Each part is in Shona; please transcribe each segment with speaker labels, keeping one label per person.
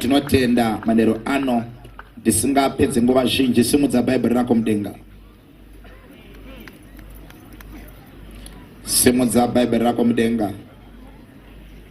Speaker 1: tinotenda manero ano ndisingapedze nguva zhinji simudza bhaibheri rako mudenga simudza bhaibheri rako mudenga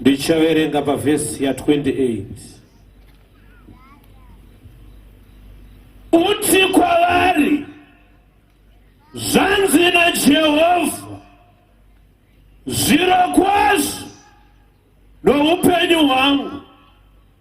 Speaker 1: ndichaverenga pavhesi ya28 uti kwavari zvanzi najehovha zvirokwazvo noupenyu hwangu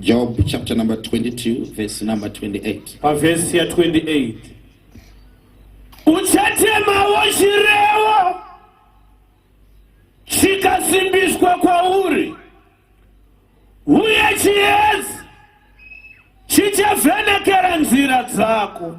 Speaker 1: Job chapter number 22 verse number 28. Pa verse ya 28. Uchatema wochirewo chikasimbiswa kwauri uye chiedzi chichavhenekera nzira dzako.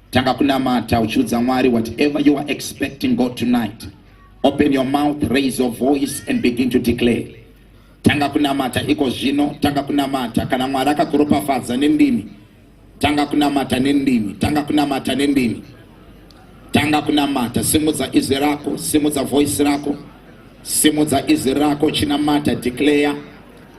Speaker 1: Tanga kunamata uchiudza Mwari whatever you are expecting God tonight. Open your mouth, raise your voice and begin to declare. Tanga kunamata iko zvino, tanga kunamata kana Mwari akakuropafadza nendimi. Tanga kunamata nendimi, tanga kunamata nendimi. Tanga kunamata, simudza izwi rako, simudza voice rako. Simudza izwi rako, chinamata, declare.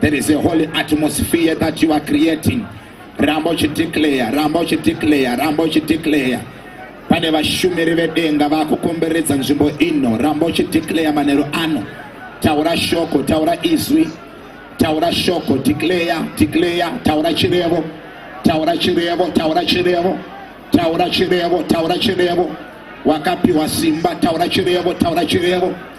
Speaker 1: There is a holy atmosphere that you are creating. Ramba uchideclare, ramba uchideclare, ramba uchideclare. Pane vashumiri vedenga vakukomberedza nzvimbo ino. Ramba uchideclare manheru ano. Taura shoko, taura izwi. Taura shoko, declare, declare, taura chirevo. Taura chirevo, taura chirevo. Taura chirevo, taura chirevo. Wakapiwa simba, taura chirevo, taura chirevo.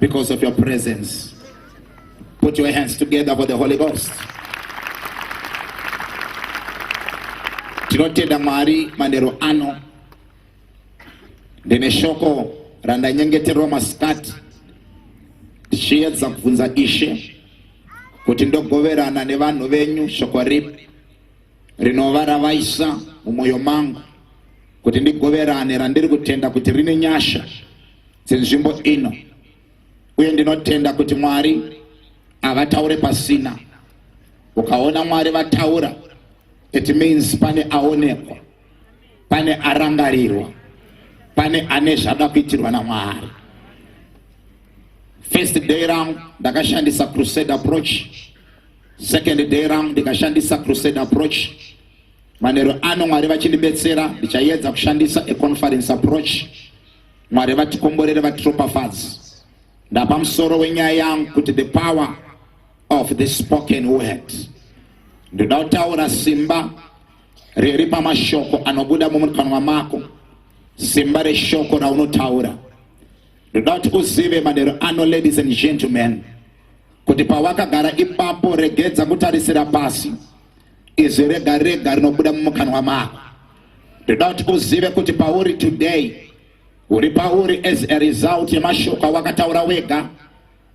Speaker 1: because of your presence. Put your hands together for the Holy Ghost. Tinotenda Mwari manero ano ndine shoko randanyengeterwa masikati ndichiedza kubvunza Ishe kuti ndogoverana nevanhu venyu shoko ripi rinova ravaisa mumwoyo mangu kuti ndigoverane randiri kutenda kuti rine nyasha dzenzvimbo ino uye ndinotenda kuti mwari havataure pasina ukaona mwari vataura it means pane aonekwa pane arangarirwa pane ane zvada kuitirwa namwari first day rangu ndakashandisa crusade approach second day rangu ndikashandisa crusade approach manero ano mwari vachindibetsera ndichayedza kushandisa econference approach Mwari vatikomborere vatiropafadzi. Ndapa musoro wenyaya yangu kuti the power of the spoken word. Ndoda kutaura simba riri pamashoko anobuda mumukanwa mako, simba reshoko raunotaura. Ndoda kuti uzive manheru ano, ladies and gentlemen, kuti pawakagara ipapo, regedza kutarisira pasi izwi rega rega rinobuda mumukanwa mako. ndoda kuti uzive kuti pauri today uri pauri as a result yemashoko awakataura wega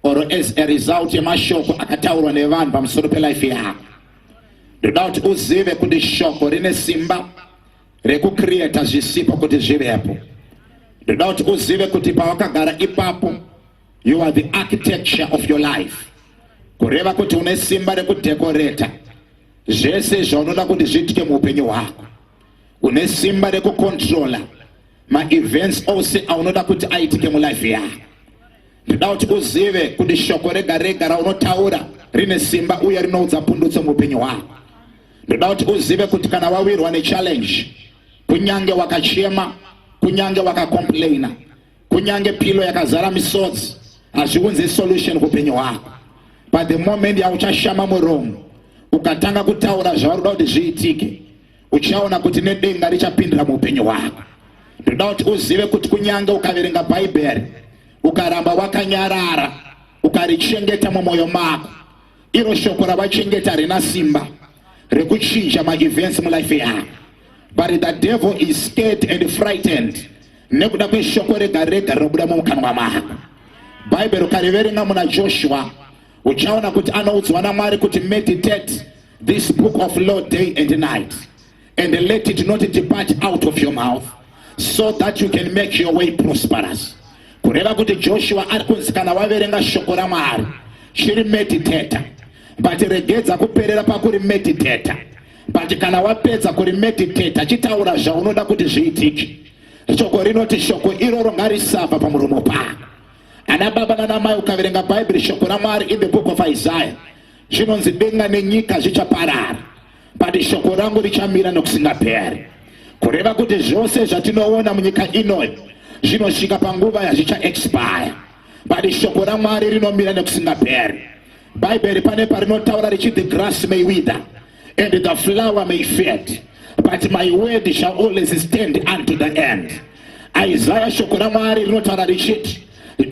Speaker 1: or as a result yemashoko akataurwa nevanhu pamusoro pelife yako ndoda kuti uzive kuti shoko rine simba rekucreata zvisipo kuti zvivepo ndoda kuti uzive kuti pawakagara ipapo you are the architecture of your life kureva kuti une simba rekudhekoreta zvese zvaunoda kuti zviitike muupenyu hwako une simba rekukontrola maevents ose aunoda kuti aitike mulife yako ndida kuti uzive kuti shoko rega rega raunotaura rine simba uye rinoudza pundutso muupenyu hwako ndida kuti uzive kuti kana wawirwa nechallenge kunyange wakachema kunyange wakacomplaina kunyange pilo yakazara misodzi hazviunze solution kupenyu hwako but the moment yauchashama muromo ukatanga kutaura zvauri kuda kuti zviitike uchaona kuti nedenga richapindira muupenyu hwako ndoda kuti uzive kuti kunyange ukaverenga bhaibheri ukaramba wakanyarara ukarichengeta mumwoyo mako iro shoko ravachengeta harina simba rekuchinja maevents mulife yavo but the devil is scared and frightened nekuda kweshoko rega rega rinobuda mumukanwa mako bhaibheri ukariverenga muna joshua uchaona kuti anoudzwa namwari kuti meditate this book of law day and night and let it not depart out of your mouth so that you can make your way prosperous kureva kuti joshua ari kunzi kana waverenga shoko ramwari chiri meditata but regedza kuperera pakuri meditata but kana wapedza kuri meditata chitaura zvaunoda kuti zviitike shoko rinoti shoko iroro ngarisabva pamuromo pako ana baba nanamai ukaverenga bhaibheri shoko ramwari in the book of isaiah zvinonzi denga nenyika zvichaparara but shoko rangu richamira nokusingaperi kureva kuti zvose zvatinoona munyika ino zvinosvika panguva yazvichaexpire but shoko ramwari rinomira nekusingaperi bhaibheri pane parinotaura richi the grass may wither and the flower may fade but my word shall always stand unto the end isaya shoko ramwari rinotaura richiti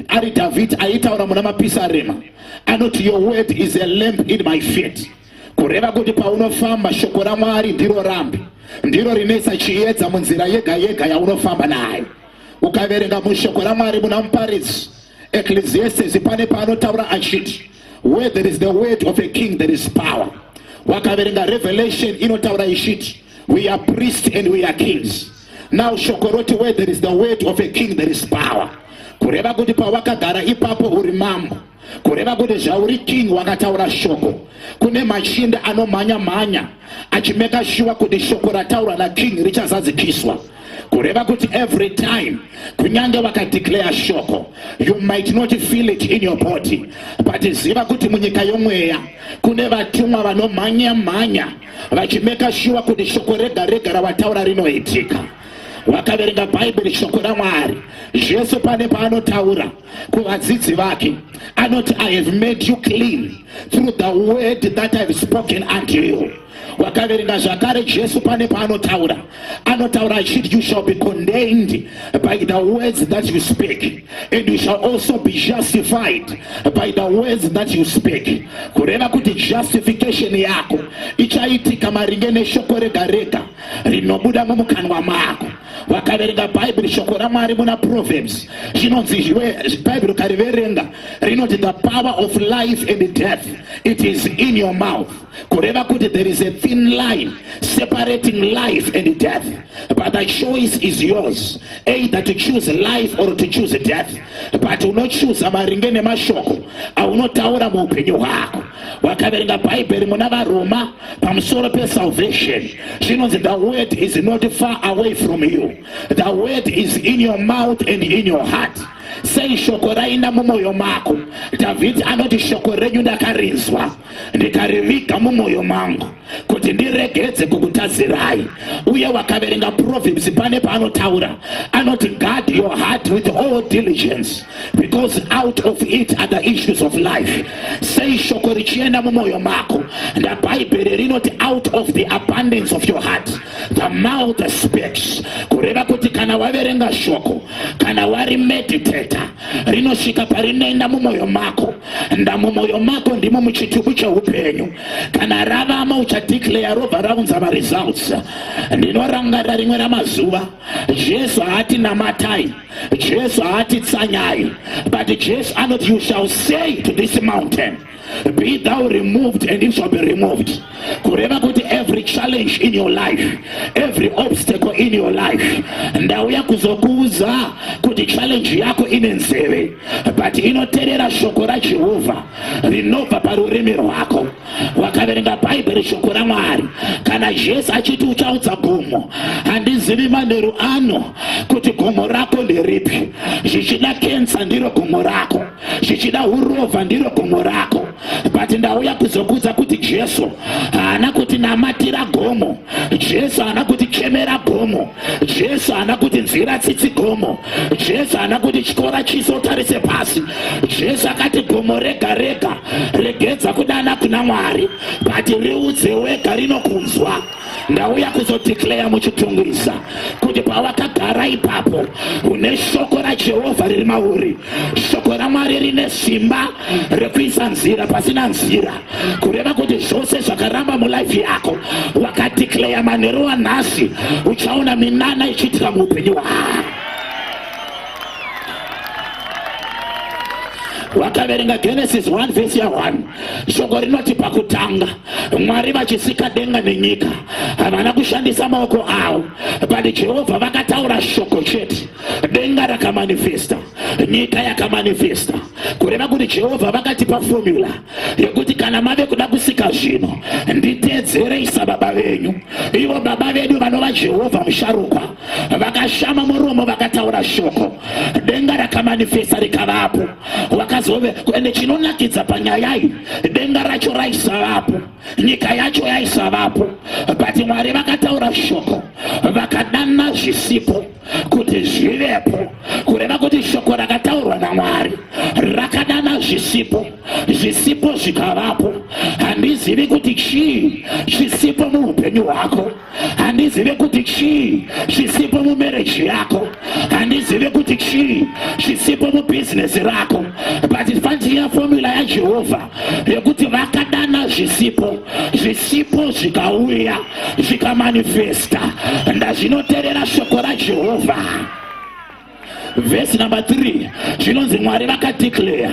Speaker 1: ari dhavhidhi aitaura muna mapisarema anoti your word is a lamp in my feet kureva kuti paunofamba shoko ramwari ndiro rambi ndiro rinoisa chiedza munzira yega yega yaunofamba nayo ukaverenga mushoko ramwari muna muparidzi ecclesiastes pane paanotaura achiti where there is the word of a king there is power wakaverenga revelation inotaura ichiti we are priest and we are kings now shoko roti where there is the word of a king there is power kureva kuti pawakagara ipapo uri mambo kureva kuti zvauri king wakataura shoko kune machinda anomhanya mhanya achimeka shuwa kuti shoko rataurwa naking richazadzikiswa kureva kuti every time kunyange vakadeclare shoko you might not feel it in your body but ziva kuti munyika yomweya kune vatumwa vanomhanya mhanya vachimeka shuwa kuti shoko rega rega ravataura rinoitika wakaverenga bhaibheri shoko ramwari zvese pane paanotaura kuvadzidzi vake anoti i have made you clean through the word that ihave spoken unto you wakaverenga zvakare jesu pane paanotaura anotaura achiti you shall be condained by the words that you speak and you shall also be justified by the words that you speak kureva kuti justification yako ichaitika maringe neshoko rega rega rinobuda mumukanwa mako vakaverenga bhaibheri shoko ramwari muna proverbs zvinonzi bhaibheri ukariverenga rinoti the power of life and death it is in your mouth kureva kuti there is a thin line separating life and death but the choice is yours either to choose life or to choose death but unochuza maringe nemashoko aunotaura muupenyu hwako wakaverenga bhaibheri muna varoma pamusoro pesalvation zvinonzi the word is not far away from you the word is in your mouth and in your heart sei shoko raina mumwoyo mako dhavhidhi anoti shoko renyu ndakarinzwa ndikariviga mumwoyo mangu kuti ndiregedze kukutazirai uye wakaverenga proverbs pane paanotaura anoti guard your heart with all diligence because out of it are the issues of life sei shoko richienda mumwoyo mako ndabhaibheri rinoti out of the abundance of your heart the mouth speaks kureva kuti kana waverenga shoko kana wari meditator rinosvika parinoenda mumwoyo mako ndamumwoyo mako ndimo muchitubu cheupenyu kana ravamo uchadeclare robva raunza maresults ndinorangarira rimwe ramazuva jesu haati namatai jesu haati tsanyai but jesu anoti you shall say to this mountain be thou removed and it shall be removed kureva kuti every challenge in your life every obstacle in your life ndauya kuzokuudza kuti challenge yako ine nzeve but inoterera shoko rajehovha rinobva parurimi rwako wakaverenga bhaibheri shoko ramwari kana jesu achiti uchaudza gomo handizivi manheru ano kuti gomo rako nderipi zvichida kensa ndiro gomo rako zvichida urovha ndiro gomo rako but ndauya kuzokuudza kuti jesu haana kuti namatira gomo jesu haana kuti chemera gomo Jesu haana kuti nzira tsitsi gomo. Jesu haana kuti chikora chiso utarise pasi. Jesu akati gomo rega rega regedza kudana kuna Mwari, but riudze wega rinokunzwa. Ndauya kuzodeclare muchitungwiza kuti pawakagara ipapo une shoko raJehovha riri mauri. Shoko raMwari rine simba rekuisa nzira pasina nzira. kureva kuti zvose zvakaramba mulife yako wakadeclare manheru anhasi uchaona minana ichiitira muupenyu hwaa wakaverenga genesis 1 vhesi ya 1 shoko rinoti pakutanga mwari vachisika denga nenyika havana kushandisa maoko avo but jehovha vakataura shoko chete denga rakamanifesta nyika yakamanifesta kureva kuti jehovha vakatipa fomula yekuti kana mave kuda kusika zvinhu nditeedzerei sababa venyu ivo baba vedu vanova jehovha musharukwa vakashama muromo vakataura shoko denga rakamanifesta rikavapo wakazove ende chinonakidza panyaya iyi denga racho raisavapo nyika yacho yaisavapo but mwari vakataura shoko vakadana zvisipo kuti zvivepo kureva kuti shoko rakataurwa namwari rakadana zvisipo zvisipo zvikavapo handizivi kuti chii chisipo muupenyu hwako handizivi kuti chii chisipo mumereji yako handizivi kuti chii chisipo mubhizinesi rako but fandiya fomula yajehovha yekuti vakadana zvisipo zvisipo zvikauya zvikamanifesta ndazvinoterera shoko rajehovha vhesi number 3 zvinonzi mwari vakadeclare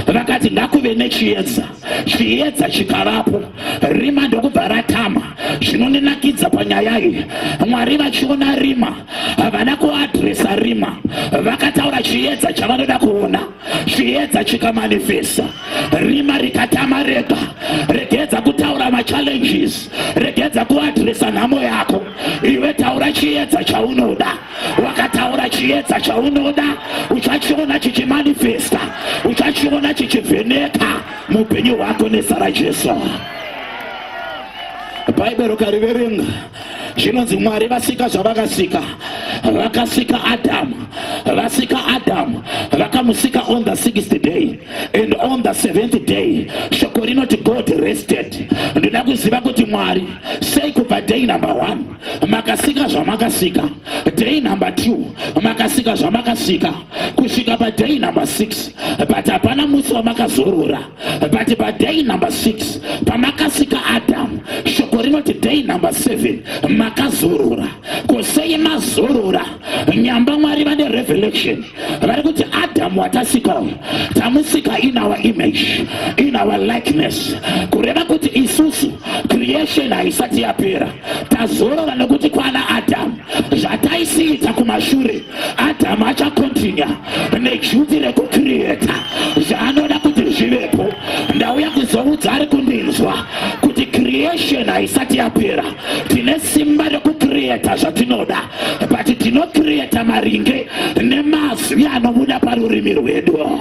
Speaker 1: vakati ngakuve nechiedza chiedza chikavapo rima ndokubva ratama zvinondinakidza panyaya iyi mwari vachiona rima havana kuadresa rima vakataura chiedza chavanoda kuona chiedza chikamanifesta rima rikatama rega regedza kutaura machallenges regedza kuadresa nhamo yako iwe taura chiedza chaunoda wakataura chiedza chaunoda uchachiona chichimanifesta uchachiona chichivheneka muupenyu hwako nezara jesu bhaibheri ukariverenga zvinonzi mwari vasika zvavakasika vakasika adamu vasika adamu vakamusika on the sixth day and on the seventh day shoko rinoti god rested ndoda kuziva kuti mwari sei kubva day number one makasika zvamakasika day number two makasika zvamakasika kusvika paday number six but hapana musi wamakazorora but paday number 6 pamakasika adamu shoko rinoti day number 7 makazorora kusei mazorora nyamba mwari vane revelation vari kuti adamu watasika tamusika in our image in our likeness kureva kuti isusu creation haisati yapera tazorora nekuti kwana adamu zvataisiita kumashure adhamu achakontinya nejuti rekukiriyeta zvaanoda kuti zvivepo ndauya kuzoudza ari kundinzwa kuti kiriyesheni haisati yapera tine simba rekukiriyeta zvatinoda but tinokiriyeta maringe nemazwi anobuda parurimi rwedu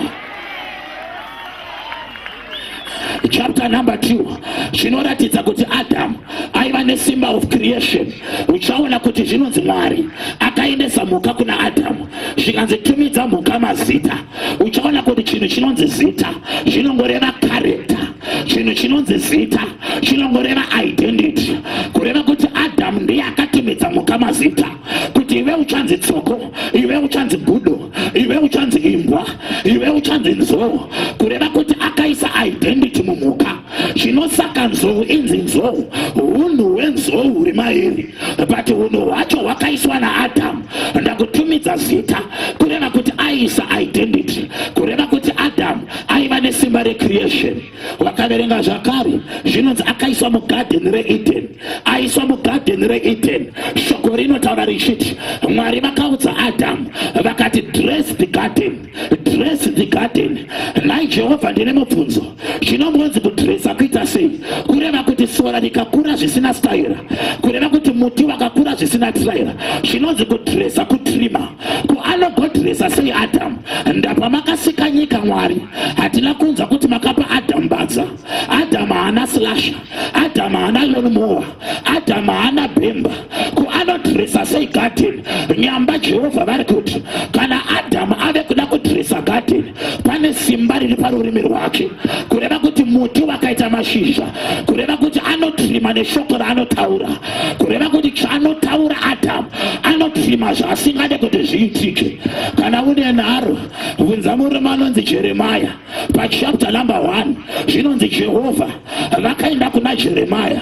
Speaker 1: chapter number 2 zvinoratidza kuti adamu aiva nesimba of creation uchaona kuti zvinonzi mwari akaendesa mhuka kuna adamu zvikanzi tumidza mhuka mazita uchaona kuti chinhu chinonzi zita zvinongoreva karekta chinhu chinonzi zita chinongoreva identity kureva kuti adamu ndiye akatumidza mhuka mazita kuti iwe uchanzi tsoko iwe uchanzi gudo iwe uchanzi imbwa iwe uchanzi nzou kureva kuti akaisa identity mumhuka zvino saka nzou inzi nzou unhu hwenzou huri mairi but unhu hwacho hwakaiswa naadhamu ndakutumidza zita kureva kuti aiisa identity kureva kuti adhamu aiva nesimba recreation vakaverenga zvakare zvinonzi akaiswa mugadheni reedeni aiswa mugadheni reedeni shoko rinotaura richiti mwari vakaudza adhamu vakati dress the garden dress the garden nhai jehovha ndine mubvunzo zvinombonzi kudresa kuita sei kureva kuti sora rikakura zvisina staira kureva kuti muti wakakura zvisina traira zvinonzi kudresa kutrima ko anogodresa sei adhamu ndapa makasika nyika mwari hatina kunzwa kuti makapa adhamu badza adhamu haana slasha adhamu haana lonmowa adhamu haana bhemba ko anodresa sei gadheni nyamba jehovha vari kuti kana adhamu ave kuda kudresa gadheni pane simba riri parurimi rwake kureva kuti muti wakaita mashizha kureva kuti anotirima neshoko raanotaura kureva kuti chaanotaura adamu anotrima zvaasingade kuti zviitike kana une nharo bvunza murume anonzi jeremaya pachapta number 1 zvinonzi jehovha vakaenda kuna jeremaya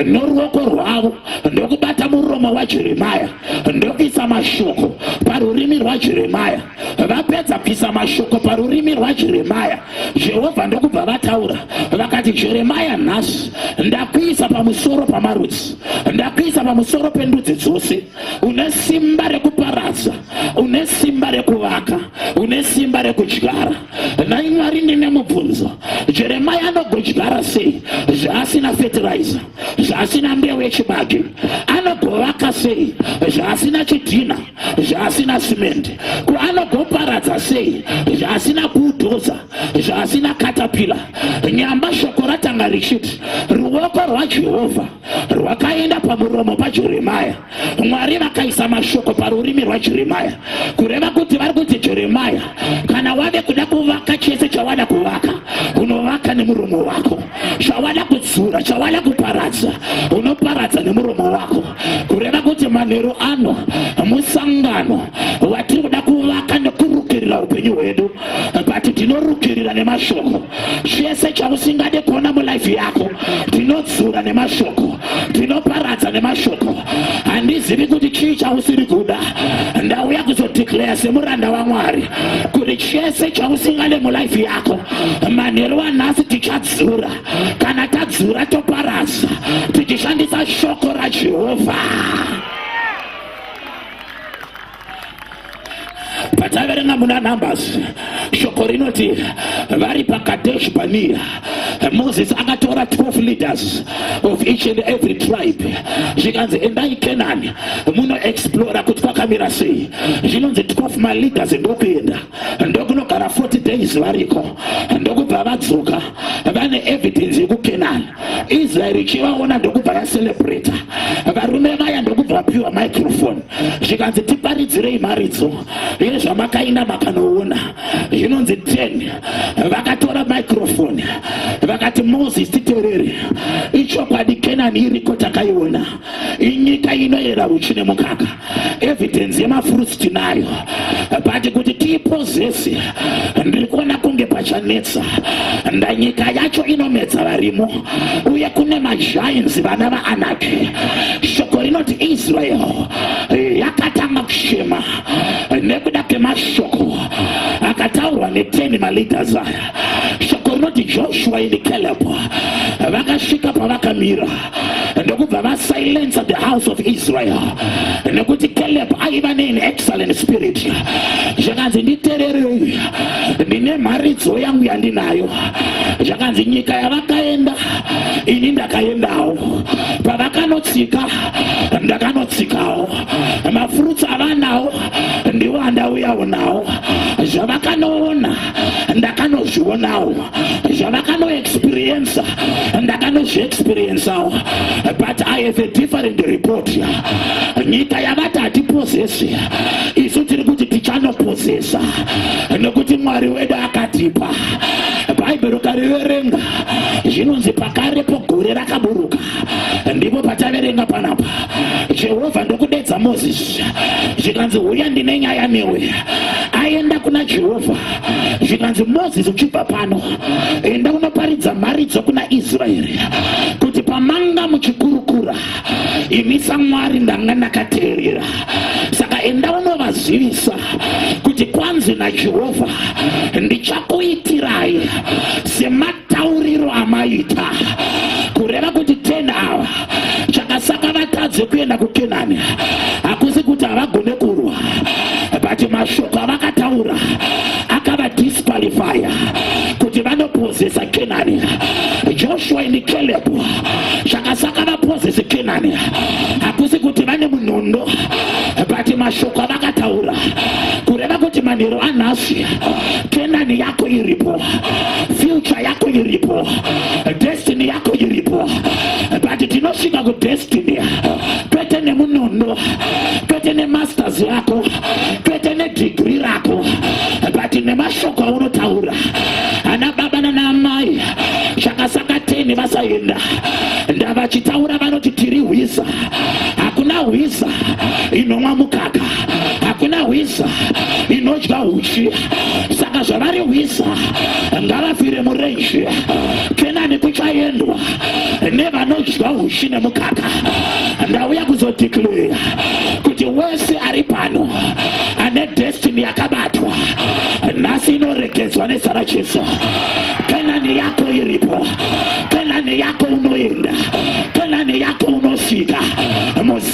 Speaker 1: noruoko rwavo ndokubata muromo wajeremaya ndokuisa mashoko parurimi rwajeremaya vapedza kuisa mashoko parurimi rwajeremaya Jehovha ndokubva vataura vakati, Jeremaya, nhasi ndakuisa pamusoro pamarudzi, ndakuisa pamusoro pendudzi dzose. Une simba rekuparadza, une simba rekuvaka, une simba rekudyara. Nhai Mwari, ndine mubvunzo, Jeremaya anogodyara sei zvaasina fetiraiza, zvaasina mbeu yechibage? Anogovaka sei zvaasina chidhina? zvaasina simendi ko anogoparadza sei zvaasina kudhoza zvaasina katapila nyamba shoko ratanga richiti ruoko rwajehovha rwakaenda pamuromo pajeremaya mwari vakaisa mashoko parurimi rwajeremaya kureva kuti vari kuti jeremaya kana wave kuda kuvaka chese chawada kuvaka unovaka nemuromo wako chawada kudzura chawada kuparadza unoparadza nemuromo wako kureva kuti manheru ano musangano watiri kuda kuvaka nekurukirira upenyu hwedu but tinorukirira nemashoko chese chausingade kuona mulife yako tinodzura nemashoko tinoparadza nemashoko handizivi kuti chii chausiri kuda ndauya kuzodeclare semuranda wamwari kuti chese chausingade mulife yako manheru anhasi tichadzura kana tadzura toparasa tichishandisa shoko rajehovha pataverenga muna numbers shoko rinoti vari pakadesh bania moses akatora 12 leaders of each and every tribe zvikanzi endai canaan munoexplora kuti kwakamira sei zvinonzi 12 maleaders ndokuenda ndokunogara 40 days variko ndokubva vadzoka vane evidence yekukenan israel ichivaona ndokubva vacelebrata varume vaya ndokubva vapiwa microfone zvikanzi tiparidzirei mharidzo yezvamakainda makanoona zvinonzi 10 vakatora microfone vakati moses titerere ichokwadi kenani iriko takaiona inyika inoyera uchi nemukaka evidence yemafruits tinayo but kuti tiipozese ndiri kuona kunge pachanetsa ndanyika yacho inomedza varimo uye kune majainzi vana vaanaki shoko rinoti israel yakatanga kushema nekuda kemashoko akataurwa neteni maleaders aya shoko rinoti joshua ini caleb vakasvika pavakamira ndokubva vasilensa the house of israel nekuti caleb aiva nein excellent spirit zvakanzi nditererei ndine mharidzo yangu yandinayo zvakanzi nyika yavakaenda ini ndakaendawo pavakanotsika ndakanotsikawo mafurutsi avanawo ndiwo andauyawo nawo zvavakanoona ndakanozvionawo zvavakanoexperiensa ndakanozviexperiensawo but i have a different report nyika yavati hatipozesi isu tiri kuti tichanopozesa nekuti mwari wedu akatipa bhaibheri ukariverenga zvinonzi pakarepo gore rakaburuka ndipo pataverenga panapa jehovha ndokudedza mozisi zvikanzi huya ndine nyaya newe aenda kuna jehovha zvikanzi mozisi uchibva pano enda unoparidza mharidzo kuna israeri kuti pamanga muchikurukura imi samwari ndanga ndakateerera saka enda unovazivisa kuti kwanzi najehovha ndichakuitirai sema tauriro amaita kureva kuti ten awa chakasaka vatadze kuenda kukenani hakusi kuti havagone kurwa but mashoko avakataura akavadisqualifya kuti vanopozesa kenani joshua and caleb chakasaka vapozese kenani hakusi kuti vane munondo but mashoko avakataura kureva kuti manhero anhasi kenani yako iripo future yako iripo destiny yako iripo but tinosvika kudestiny kwete nemunondo kwete nemasters yako kwete nedigri rako but nemashoko aunotaura ana baba nanaamai zvakasakateni vasaenda ndavachitaura vanoti tiri hwiza hakuna hwiza inomwa mukaka hakuna hwiza inodya huchi saka zvavari hwiza ngavafire murenje kenani kuchaendwa nevanodya huchi nemukaka ndauya kuzodeclare kuti wese ari pano ane destiny yakabatwa nhasi inoregedzwa nezita rajesu kenani yako iripo kenani yako unoenda kenani yako unosvika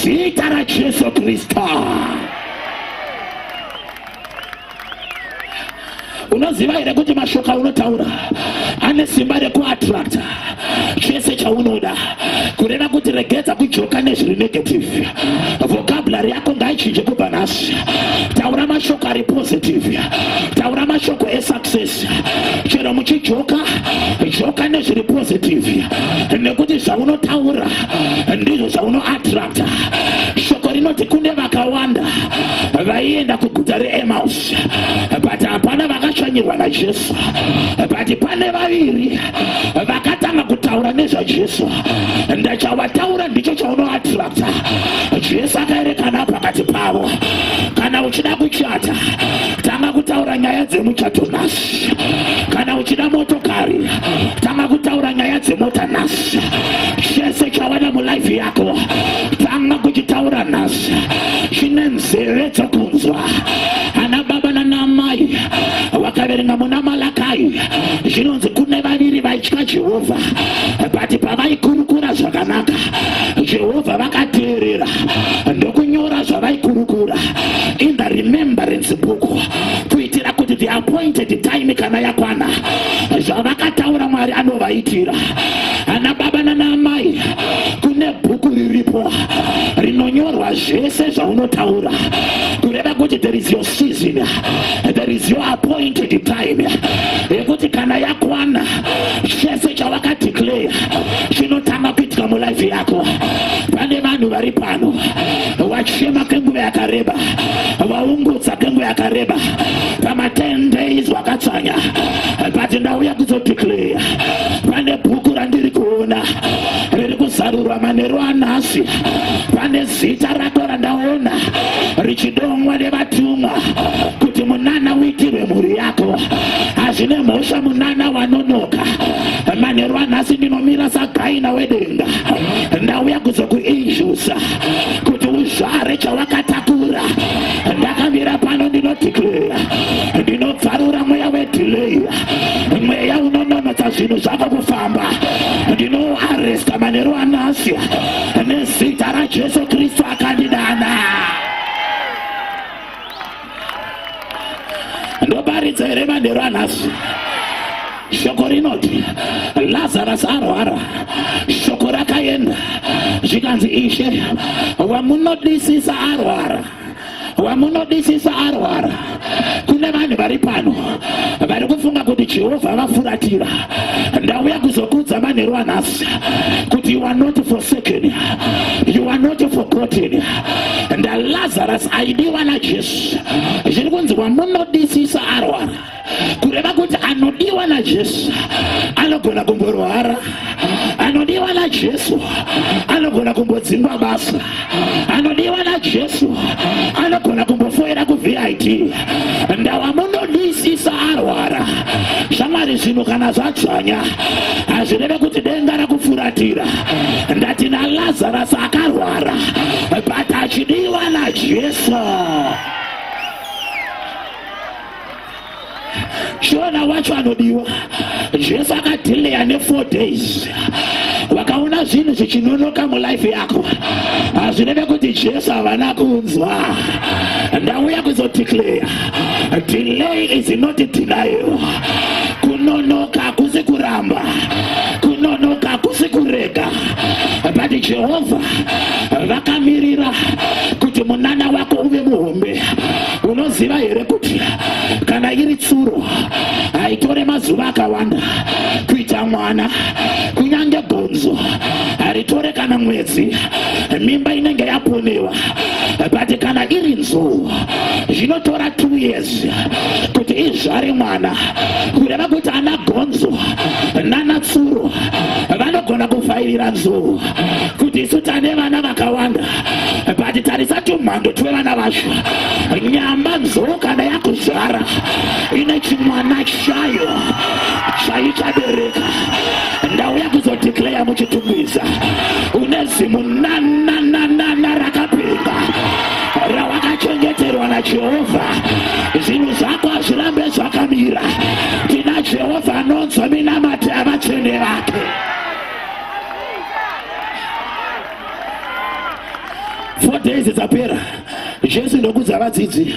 Speaker 1: zita rajesu kristu unoziva here kuti mashoko aunotaura ane simba rekuattracta chese chaunoda kureva kuti regedza kujoka nezviri negative vocabulary yako ngaichinje kubva nhasi taura mashoko ari positive taura mashoko esat sisi chero muchijoka joka nezviri positive nekuti zvaunotaura ndizvo zvaunoattracta shoko rinoti kune vakawanda vaienda kuguta reemaus but hapana vakashanyirwa najesu but pane vaviri vakatanga kutaura nezvajesu ndachawataura ndicho chaunoattracta jesu akaerekana pakati pavo kana uchida kuchata tanga kutaura nyaya dzemuchato nhasi kana uchida motokari tanga kutaura nyaya dzemota nhasi chese chavada mulife yako tanga kuchitaura nhasi chine nzeve dzokunzwa ana baba nanamai vakaverenga muna malakai zvinonzi kune vaviri vaitya jehovha but pavaikurukura zvakanaka jehovha vakateerera ndokunyora zvavaikurukura in the remembrance book kuitira kuti the appointed time kana yakwana zvavakataura mwari anovaitira ana baba nanaamai kune bhuku riripo rinonyorwa zvese zvaunotaura kureva kuti there is your season there is your appointed time yekuti kana yakwana chese chawakadeclare chinotanga kuitika mulife yako pane vanhu vari pano wachema kenguva yakareba waungudza kenguva yakareba pama 10 days wakatsanya but ndauya kuzodeclare pane bhuku randiri kuona riri kuzarurwa manheru anhasi pane zita rako randaona richidomwa nevatumwa kuti munana uitirwe mhuri yako hazvine mhosva munana wanonoka manheru anhasi ndinomira sagaina wedenga ndauya kuzokuinjusa kuti uzvare chawakatakura ndakamira pano ndinodhiklera ndinobvarura mweya wedhileyi mweya unononotsa zvinhu zvako kufamba ndinoaresta manheru anasi nezita rajesu kristu akandidana ndoparidza here manheru anhasi shoko rinoti lazarus arwara shoko rakaenda zvikanzi ishe wamunodisisa arwara wamunodisisa arwara kune vanhu vari pano vari kufunga kuti jehovha vafuratira ndauya kuzokudza manheru anhasi kuti you are not forsaken you are not forgotten and lazarus aidiwa najesu zviri kunzi wamunodisisa arwara kureva kuti anodiwa najesu anogona kumborwara anodiwa najesu anogona kumbodzingwa basa anodiwa najesu anogona kumbofoira kuvit ndawamunodisisa arwara shamwari zvinhu kana zvadzvanya hazvireve kuti denga rekufuratira ndati nalazarus akarwara but achidiwa najesu chiona wacho anodiwa jesu akadhileya ne4 days wakaona zvinhu zvichinonoka mulife yako hazvinene kuti jesu havana kunzwa ndauya kuzodeclare delay is not denial kunonoka hakusi kuramba kunonoka hakusi kurega but jehovha vakamirira kuti munana wako uve muhombe unoziva here kuti kana iri tsuro haitore mazuva akawanda kuita mwana kunyange bhonzo haritore kana mwedzi mimba inenge yaponewa but kana iri nzou zvinotora two years kuti izvare mwana kureva kuti ana bhonzo nana tsuro vanogona kufairira nzou kuti isu tane vana vakawanda but tarisa tumhando twevana vacho nyamba nzoro kana yakuzvara ine chimwana chayo chaichabereka ndauya kuzodeclaya muchitumbisa une zimu nanananana rakapinda rawakachengeterwa najehovha zvinhu zvako hazvirambe zvakamira tina jehovha anonzwa minamati avatsvene vake four days dzapera jesu ndokudza vadzidzi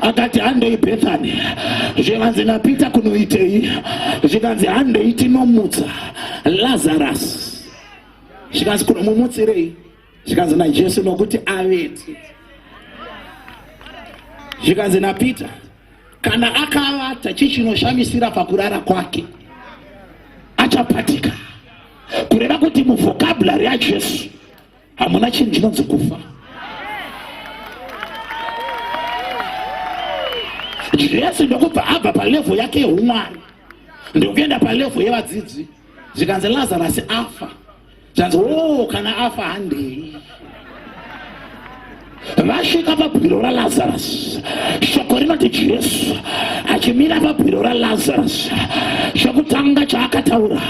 Speaker 1: akati handei bethani zvikanzi napeter kunoitei zvikanzi handei tinomutsa lazarus zvikanzi kunomumutsirei zvikanzi najesu nokuti avete zvikanzi napeter Kana akavata chichinoshamisira pakurara kwake achapatika, kureva kuti muvhokabhulari yaJesu hamuna chinhu chinonzi kufa. Jesu ndokubva abva palevho yake yeumwari ndokuenda palevho yevadzidzi zvikanzi Lazarasi afa. zvanzi o oh, kana afa handei vasvika pabwiro ralazarus shoko rinoti jesu achimira pabwiro ralazarus chokutanga chaakataura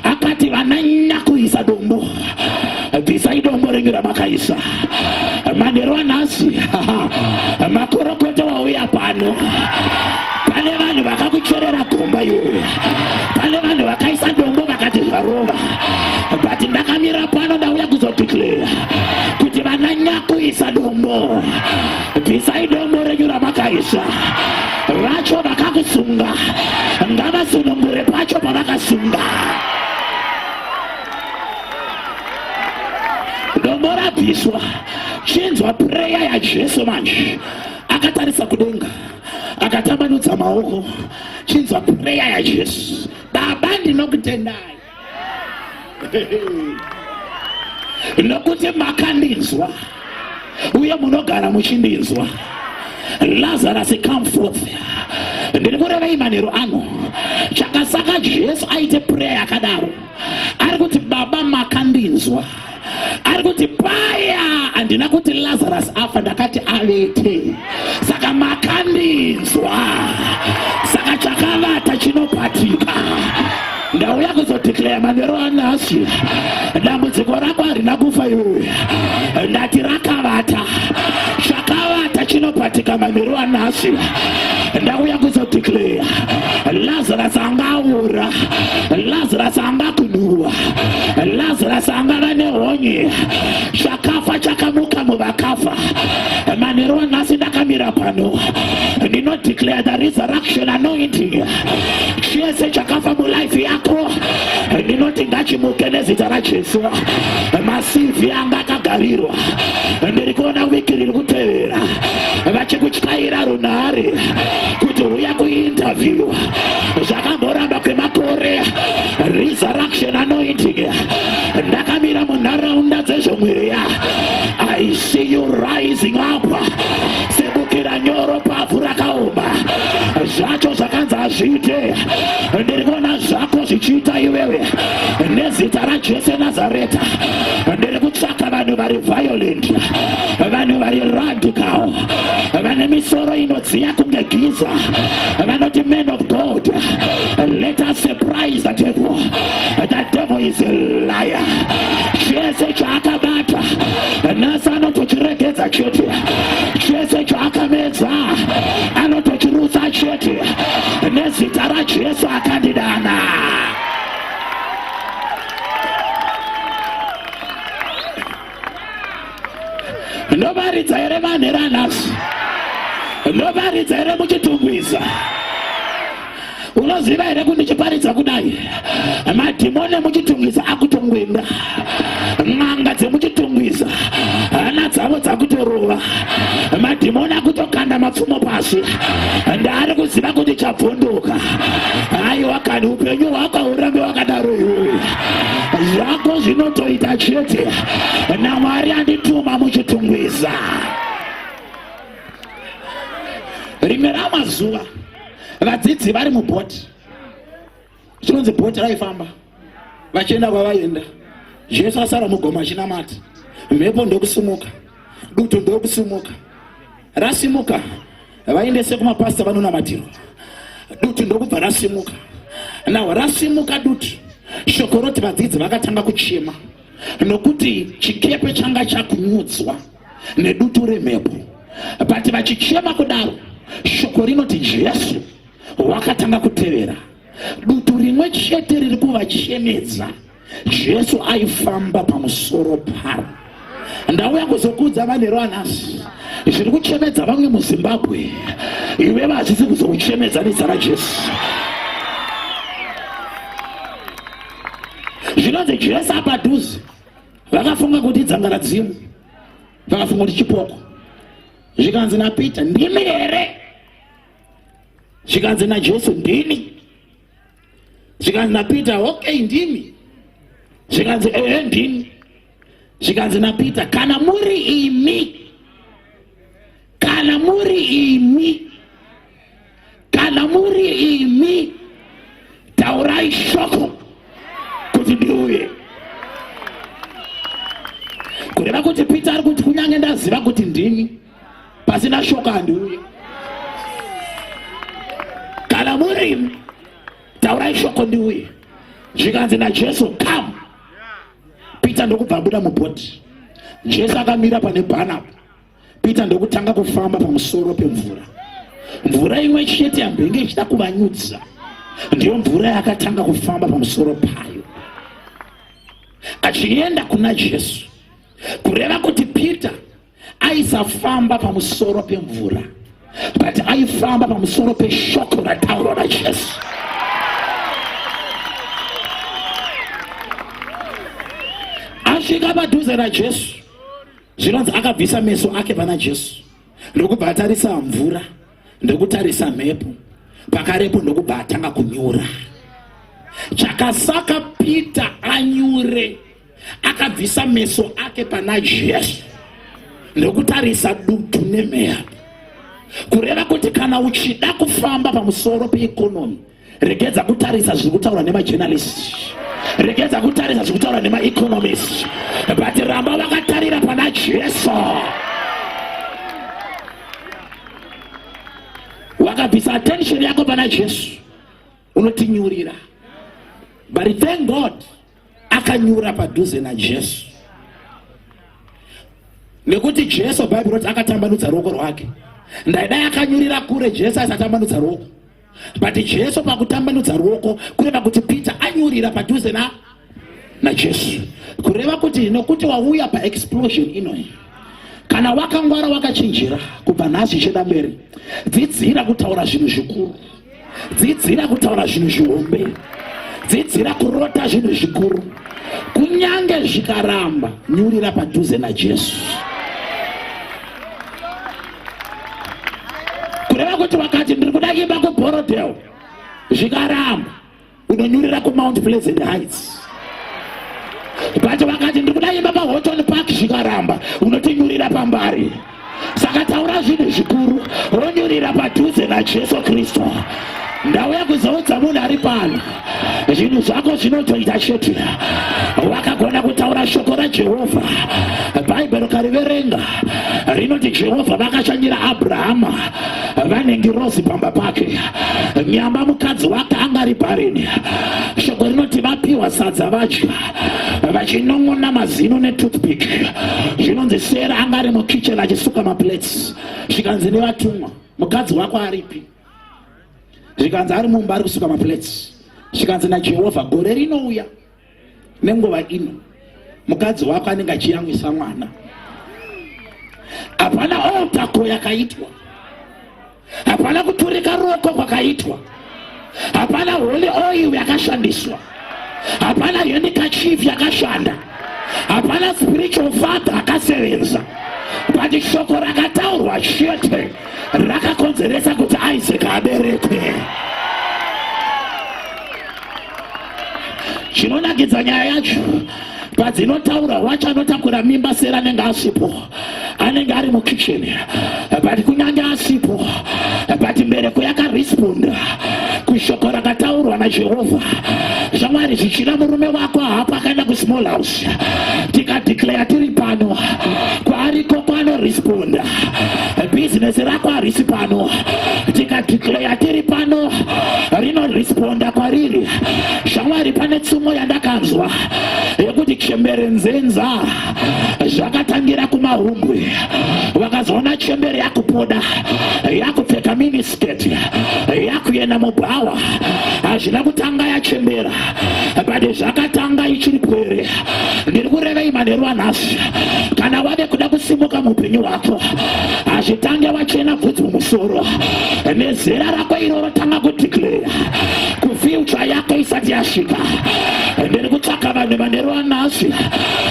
Speaker 1: akati vananya kuisa dombo bvisai dombo renyu ramakaisa manhero anhasi makorokoto wauya pano pane vanhu vakakuchorera gomba iwe pane vanhu vakaisa dombo vakati zvarova but ndakamira pano ndauya kuzodeclara kuti vana nyakuisa dombo bvisai dombo renyu ramakaisa vacho vakakusunga ngavasunungure pacho pavakasunga dombo rabviswa chinzwa preya yajesu manje akatarisa kudenga akatambanudza maoko chinzwa pureya yajesu baba ndinokutendai nokuti makandinzwa uye munogara muchindinzwa lazarus come forth ndiri kurevei manheru ano chakasaka jesu aite pureya yakadaro ari kuti baba makandinzwa ari kuti paya handina kuti lazarus afa ndakati avete saka makandinzwa saka chakavata chinopatika ndauya kuzodeclare manero anhasi dambudziko rako harina kufa iwe ndati rakavata chakavata chinopatika manero anhasi ndauya kuzodeclare lazarus anga aura lazarus anga kunhuwa Lazarus angava nehonye. Chakafa chakamuka muvakafa. Manheru nhasi ndakamira pano. Ndino declare the resurrection anointing. Chese chakafa mulife yako. Ndinoti ngachimuke nezita raJesu. Masivi anga akagarirwa. Ndiri kuona wiki riri kutevera. Vachikutyaira runhare kuti huya kuinterview. Zvakamboramba kwemakore. resurrection anointing ndakamira munharaunda dzezvemweya i see you rising up sebukira nyoro pavhu rakaoma zvacho zvakanzi hazviite ndiri kuona zvako zvichiita iwewe nezita rajese nazareta ndiri kutsvaka vanhu vari violent vanhu vari radical vane misoro inodziya kunge giza vanoti man of god Let us surprise the devil. The devil is a liar. Chese chaakabata nhasi anotochiregedza chete. Chese chaakamedza anotochirusa chete. Nezita raJesu akandidana. ndovaridza here vanhera nhasi ndovaridza here muchitumbwiza unoziva here kuti ndichiparidza kudai madhimoni emuchitungwiza akutongwinda n'anga dzemuchitungwiza hana dzavo dzakutorova madhimoni akutokanda mapfumo pasi ndaari kuziva kuti chabvunduka aiwa kani upenyu hwako hurambe wakadaro iwoyo zvako zvinotoita chete namwari andituma muchitungwiza rimwe ramazuva vadzidzi vari mubhoti chinonzi bhoti raifamba vachienda kwavaienda jesu asara mugomo achinamata mhepo ndokusimuka dutu ndokusimuka rasimuka vaendese kumapasita vanonamatirwa duti ndokubva rasimuka naho rasimuka duti shoko roti vadzidzi vakatanga kuchema nokuti chikepe changa chakunyudzwa nedutu remhepo but vachichema kudaro shoko rinoti jesu wakatanga kutevera dutu rimwe chete riri kuvachemedza Jesu aifamba pamusoro paro. Ndauya kuzokuudza vanero anasi zviri kuchemedza vamwe muZimbabwe, iwe hazvisi kuzokuchemedza nezita raJesu. Zvinonzi Jesu apadhuze, vakafunga kuti idzanga radzimu, vakafunga kuti chipoko, zvikanzi naPeter, ndimi here? Zvikanzi naJesu, ndini. zvikanzi napeter okay ndimi zvikanzi ehe ndimi zvikanzi napeter kana muri imi kana muri imi kana muri imi taurai shoko kuti ndiuye kureva kuti peter ari kuti kunyange ndaziva kuti ndimi pasina shoko handiuye kana murimi taurai shoko ndiuye zvikanzi najesu come peter ndokubva abuda mubhoti jesu akamira pane bhanaba peter ndokutanga kufamba pamusoro pemvura mvura imwe chete yambenge ichida kuvanyudza ndiyo mvura yakatanga kufamba pamusoro payo achienda kuna jesu kureva kuti peter aisafamba pamusoro pemvura but aifamba pamusoro peshoko rataurwa najesu asvika padhuze najesu zvinonzi akabvisa meso ake pana jesu ndokubva atarisa mvura ndokutarisa mhepo pakarepo ndokubva atanga kunyura chakasaka peter anyure akabvisa meso ake pana jesu ndokutarisa dutu nemeya kureva kuti kana uchida kufamba pamusoro peikonomi regedza kutarisa zviri kutaura nemajournalist regedza kutarisa zviri kutaura nemaeconomist but ramba vakatarira pana jesu wakabvisa attention yako pana jesu unotinyurira but thank god akanyura padhuze najesu nekuti jesu bhaibheri roti akatambanudza ruoko rwake ndaidai akanyurira kure jesu aisatambanudza ruoko but jesu pakutambanudza ruoko kureva kuti peter anyurira padhuze na najesu kureva kuti nokuti wauya paexplosion inoyi kana wakangwara wakachinjira kubva nhasi cheda mberi dzidzira kutaura zvinhu zvikuru dzidzira kutaura zvinhu zvihombe dzidzira kurota zvinhu zvikuru kunyange zvikaramba nyurira padhuze najesu kureva kuti vakati ndiri kuda imba kubhorodheo zvikaramba unonyurira kumount pleasant heights but vakati ndiri kuda imba pahoton park zvikaramba unotinyurira pambari saka taura zvinhu zvikuru ronyurira padhuze najesu kristu ndauya kuzoudza munhu ari pano zvinhu zvako zvinotoita chete wakagona kutaura shoko rajehovha bhaibheri ukariverenga rinoti jehovha vakashanyira abrahama vane ngirozi pamba pake nyamba mukadzi wake anga ari bharini shoko rinoti vapiwa sadza vadya vachinon'ona mazino netoothpick zvinonzi sera anga ari mukitchen achisuka maplates zvikanzi nevatumwa mukadzi wako aripi zvikanzi ari mumba ari kusuka maplates zvikanzi najehovha gore rinouya nenguva ino mukadzi wako anenge achiyamwisa mwana hapana otako yakaitwa hapana kuturika ruoko kwakaitwa hapana holy oil yakashandiswa hapana henikachief yakashanda hapana spiritual father akasevenza but shoko rakataurwa chete rakakonzeresa kuti isaac aberekwe chinonakidza nyaya yacho padzinotaura wacho anotakura mimba sera anenge asipo anenge ari mukitchen but kunyange asipo but mbereko yakaresponda kushoko rakataurwa najehovha zvamwari zvichina murume wako haapo akaenda kusmall house tikadeclare tiri pano kwaari koko anoresponda bhizinesi rako harisi pano tikadeclare tiri pano rinoresponda kwariri shamwari pane tsumo yandakanzwa yekuti chembere nzenza zvakatangira kumahumbwe vakazoona chembere yakupoda yakupfeka minis sketi yakuenda mubhawa hazvina kutanga yachembera but zvakatanga ichiri pwere ndiri kurevei manheru anhasi kana wave kuda kusimuka muupenyu hwako hazvitange wachena bvudzi mumusoro nezera rako iro rotanga kudeclare kufiucha yako isati yasvika ndiri kutsvaka vanhu manheru anhasi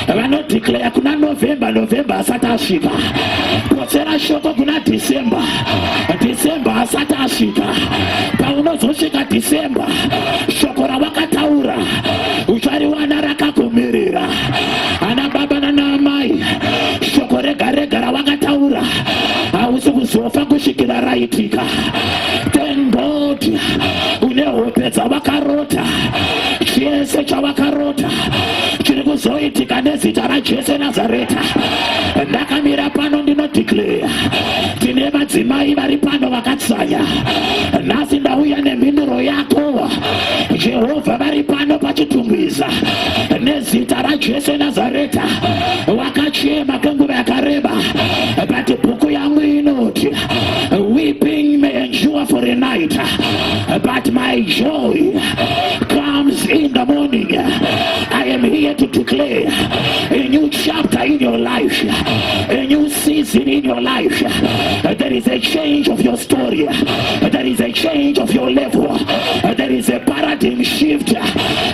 Speaker 1: vanodeclare kuna november november asati asvika potsera shoko kuna december December asati asvika, paunozosvika December, shoko rawakataura uchariwana rakakumirira. Ana baba nana amai, shoko rega rega rawakataura hausi kuzofa kusvikira raitika. Thank God une hope dzavakarota, chese chavakarota chiri kuzoitika nezita raJesu Nazareta. Ndakamira pano ndinodeclare tine madzimai vari pano vakatsanya nhasi ndauya nemhinduro yako jehovha vari pano pachitungwiza nezita rajesu nazareta wakachema kwenguva yakareba but bhuku yangu inoti weeping may endure for a night but my joy comes in the morning i am here to declare a new chapter in your life a new season in your life, there is a change of your story, there is a change of your level, there is a paradigm shift.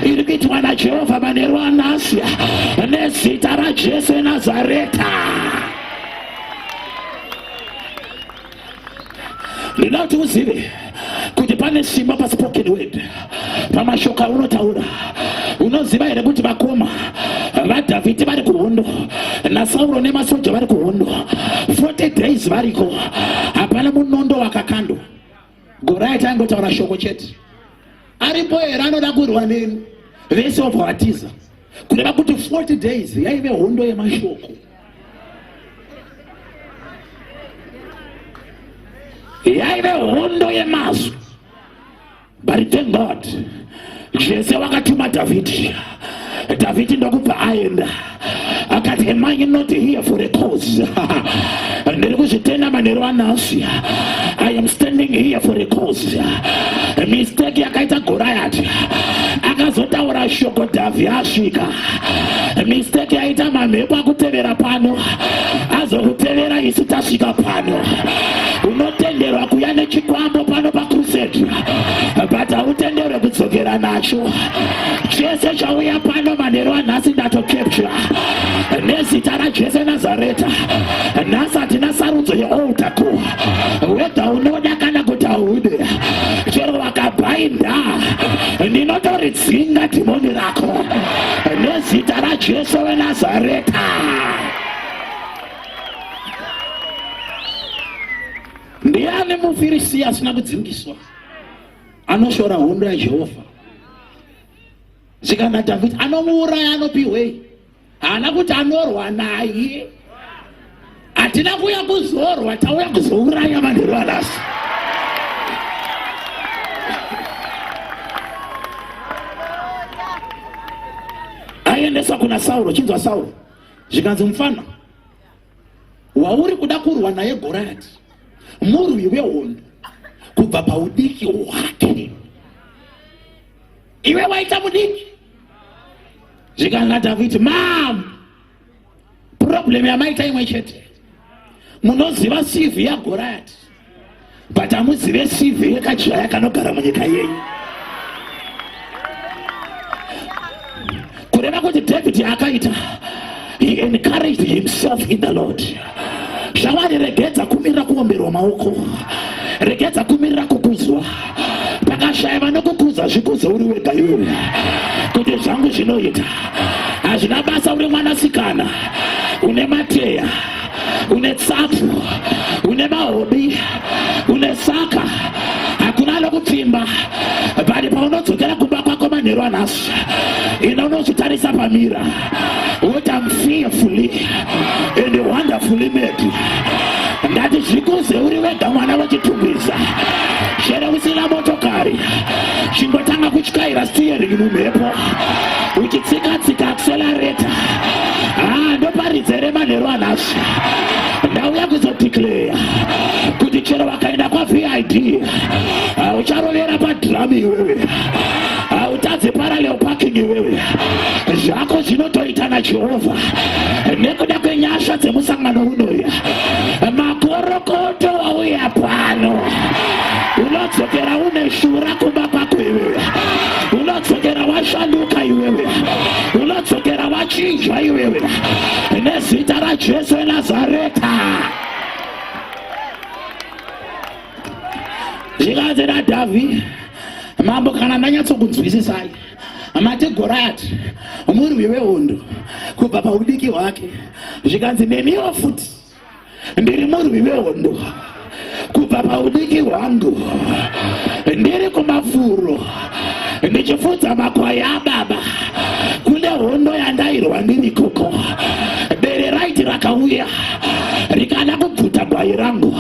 Speaker 1: Iri kuitwa naJehovha manheru anhasi nezita raJesu Nazareta. ndinoda kuti uzive kuti pane simba paspoken word pamashoko aunotaura unoziva here kuti vakoma vadhavhidhi vari kuhondo nasauro nemasoja vari kuhondo 40 days variko hapana munondo wakakandwa goraiti aingotaura shoko chete aripo here anoda kurwa neni vese vabva vatiza kureva kuti 40 days yaive hondo yemashoko yaive hondo yemazwi but thank god jese wakatuma dhavhidhi Dhavhidhi ndokubva aenda akati am I not here for a cause ndiri kuzvitenda manheru anhasi I am standing here for a cause mistake yakaita Goriati akazotaura shoko Dhavhi asvika mistake yaita mamhepo akutevera pano azokutevera isu tasvika pano unotenderwa kuya nechikwambo pano pacrusade but hautenderwe kudzokera nacho chese chauya pano manheru anhasi ndatokeptura nezita rajese nazareta nhasi hatina sarudzo yeoltaku wedha unoda kana kuti haude chero wakabhainda ndinotoridzinga dhimoni rako nezita rajesu wenazareta ndiani mufirisiya asina kudzingiswa anoshora hondo yajehovha zvikanzi dhavhidhi anomuuraya anopihwei haana kuti anorwa naye hatina kuuya kuzorwa tauya kuzouraya vanhu rivanasi aiendeswa kuna sauro chinzwa sauro zvikanzi mufana wauri kuda kurwa naye gorati murwi wehondo kubva paudiki hwake iwe waita mudiki zvikananga taviti mam problem yamaita imwe chete munoziva sivi yagorati but hamuzive cv yekachaya kanogara munyika yenyu kureva kuti david akaita he encouraged himself in the lord zvawari regedza kumirira kuomberwa maoko regedza kumirira kukuzwa pakashaya vanokukuza zvikuzo uri wega iwe kuti zvangu zvinoita hazvina basa uri mwanasikana une mateya une tsapfu une mahobi une saka hakuna lokupfimba bali paunodzokera kumba kwako manheru anhasi ina unozvitarisa pamira woti am fearfully and wonderfully made ndati zvikuze uri wega mwana wechitungwiza chero usina motokari chingotanga kutyaira steering mumhepo uchitsika tsika accelerator ah ndoparidze re manhero anhasi ndauya kuzodeclare kuti chero vakaenda kwa VID ah, ucharovera pa drum iwewe ah, utadze parallel parking iwewe zvako zvinotoita na Jehovha nekuda kwenyasha dzemusangano unoya makorokoto wauya pano unodzokera une shura kumba kwako iwewe unodzokera washanduka iwewe unodzokera wachinjwa iwewe nezita rajesu enazareta zvikanzi radhavhi mambo kana ndanyatsokunzwisisai mati gorati murwi wehondo kubva paudiki hwake zvikanzi nemiwo futi ndiri murwi vehondo kubva paudiki hwangu ndiri kumafuro ndichifudza makwai ababa kune hondo yandairwa ndiri koko bere raiti rakauya rikada kubvuta gwai rangu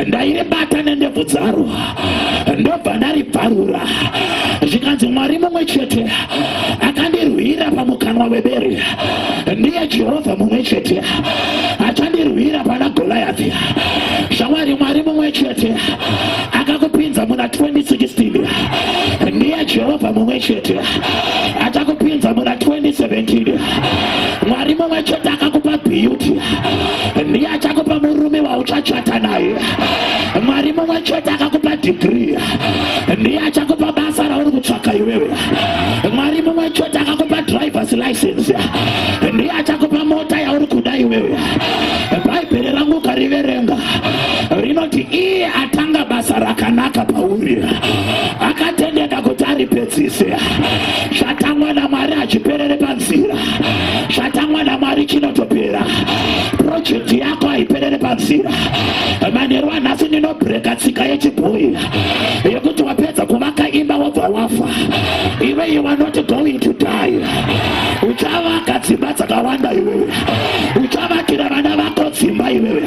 Speaker 1: ndairibata nendebvu dzaro ndobva ndaribvarura zvikanzi mwari mumwe chete akandirwira pamukanwa webere ndiye jehovha mumwe chete achandirwira pana goliathi shamwari mwari mumwe chete akakupinza muna 2016 ndiye jehovha mumwe chete achakupinza muna 2017 mwari mumwe chete akakupa beauty ndiye achakupa murume wauchachata naye mwari mumwe chete akakupa degree ndiye achakupa basa rauri kutsvaka iwewe mwari mumwe chete akakupa drivers license ndiye achakupa mota yauri kuda iwewe bhaibheri rangu ukariverenga rinoti iye atanga basa rakanaka pauri akatendeka kuti aripedzise zvatangwa namwari hachiperere panzira zvatangwa namwari chinotopera projekti yako haiperere panzira manheru anhasi ndinobreka tsika yechibhoyi yekuti wapedza kuvaka imba wobva wafa iwe you are not going to die uchavaka dzimba dzakawanda iwewe uchavakira vana vako dzimba iwewe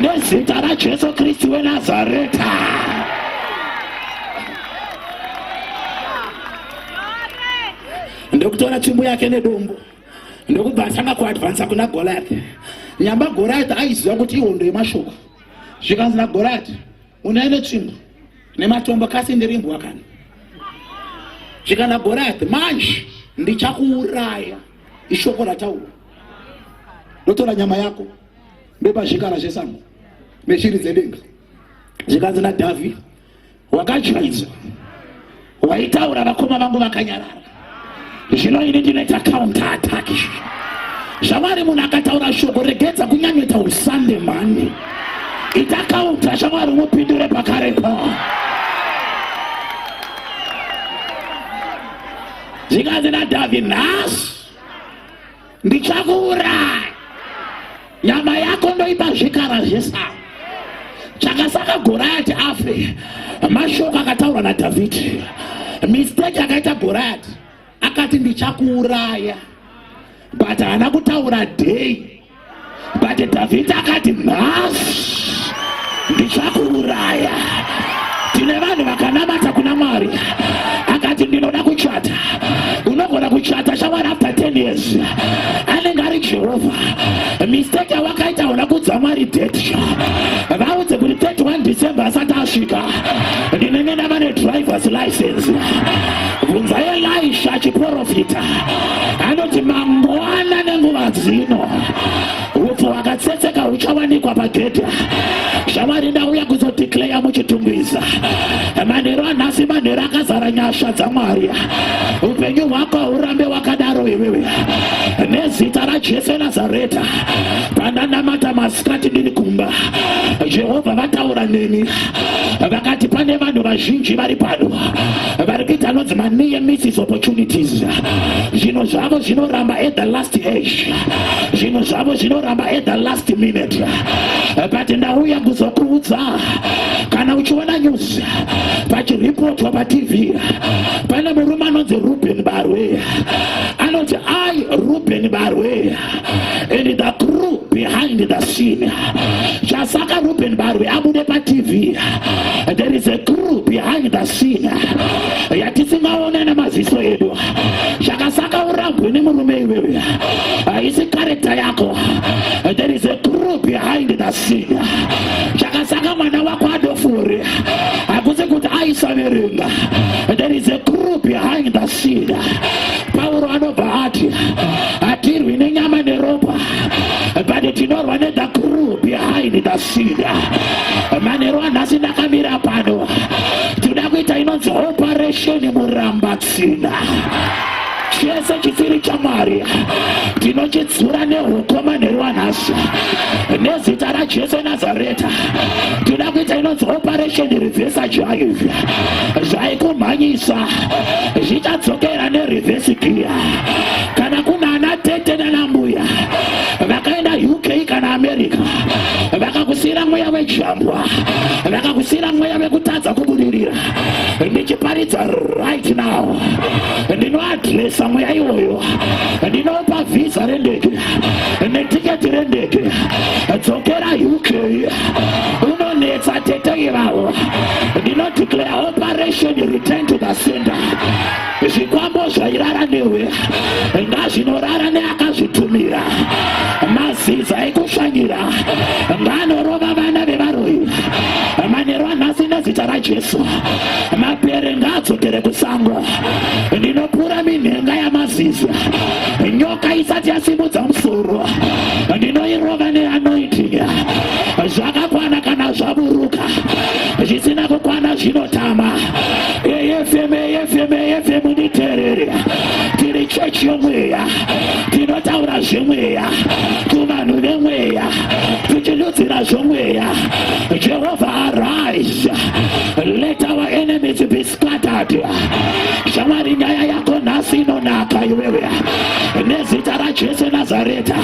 Speaker 1: nezita rajesu kristu wenazareta ndokutora tsvimbo yake nedombo ndokubva atanga kuadvansa kuna goliath nyamba goliath aiziva kuti ihondo yemashoko zvikanzi nagoliath unai netsvimbo nematombo kasi ndiri mbwa kana zvikana goliath manje ndichakuuraya ishoko rataura ndotora nyama yako ndopazvikara zvesango neshiri dzedenga zvikanzi nadhavhidha wakachuidzwa waitaura vakoma vangu vakanyarara zvino ini ndinoita counter attack zvamwari munhu akataura shoko regedza kunyanyota usande mhani ita counter zvamwari umupindure pakare pa zvikanzi nadhavhi nhasi ndichakuuraya nyama yako ndoipa zvikara zvesango chakasaka goriyati afe mashoko akataurwa nadhavhidhi misteki akaita goriyati akati ndichakuuraya but haana kutaura dei but dhavhidhi akati nhasi ndichakuuraya tine vanhu vakanamata kuna mwari akati ndinoda kuchata unogona kuchata shamwari after 10 years anenge ari jehovha mistake yawakaita una kudza mwari date vaudze kuti 31 december asati asvika ndinenge ndava nedrivers license bvunzai elisha chiprofita anoti mangwana nenguva dzino upfu hwakatsetseka huchawanikwa pagedhi shamwari ndauya kuzodeclaya muchitungwiza manheru anhasi manheru akazara nyasha dzamwari upenyu hwako hurambe wakadaro iwewe nezita rajesu nazareta pandanamata masikati ndiri kumba jehovha vataura neni vakati pane vanhu vazhinji vari pano vari kuita anonzi maniye misses opportunities zvinhu zvavo zvinoramba at the last age zvinhu zvavo zvinoramba at the last minute but ndauya kuzokuudza kana uchiona news pachiripotwa patv pane murume anonzi ruben barwe anoti i ruben barwe and the crew behind the scene chasaka ruben barwe abude patv there is a crew behind the scene yatisingaone nemaziso edu chakasaka urambwe nemurume iwewe haisi karekta yako there is a crew behind the scene chakasaka mwana wako adofure hakusi kuti aisaverenga there is a crew behind the scene pauro anobva ati hatirwi nenyama neropa but tinorwa nethe crew behind the seed manheru anhasi ndakamira pano tinoda kuita inonzi operation murambatsina chese chisiri chamwari tinochidzura neukoma neruwanhasi nezita rajesu nazareta tinoda kuita inonzi operation revesa jaivi zvaikumhanyisa zvichadzokera nerevesi giya kana kuna ana tete nana mbuya vakaenda uk kana america vakakusiyira mweya wejambwa vakakusiyira mweya vekutadza kubudirira ndichiparidza right now ndinoadresa mweya iwoyo ndinopa vhisa rendege netiketi rendege dzokera uk unonetsa tete ivavo ndinodeclare operation return to the center Zvikwambo zvairara newe ngazvinorara neakazvitumira. Maziza ekushanyira ngaanorova vana vevaroyi manheru anhasi nezita raJesu. Mapere ngaadzokere kusango. Ndinopura minhenga yamaziza. Nyoka isati yasimudza musoro ndinoirova neanointing. Zvakakwana kana zvaburuka zvisina kukwana zvinotama. AFM, AFM, AFM nditerere. Tiri chechi yomweya. Tinotaura zvemweya kuvanhu vemweya. Tichidudzira zvomweya. Jehovah arise. Let our enemies be scattered. Shamwari nyaya yako nhasi inonaka iwewe. Nezita raJesu Nazareta.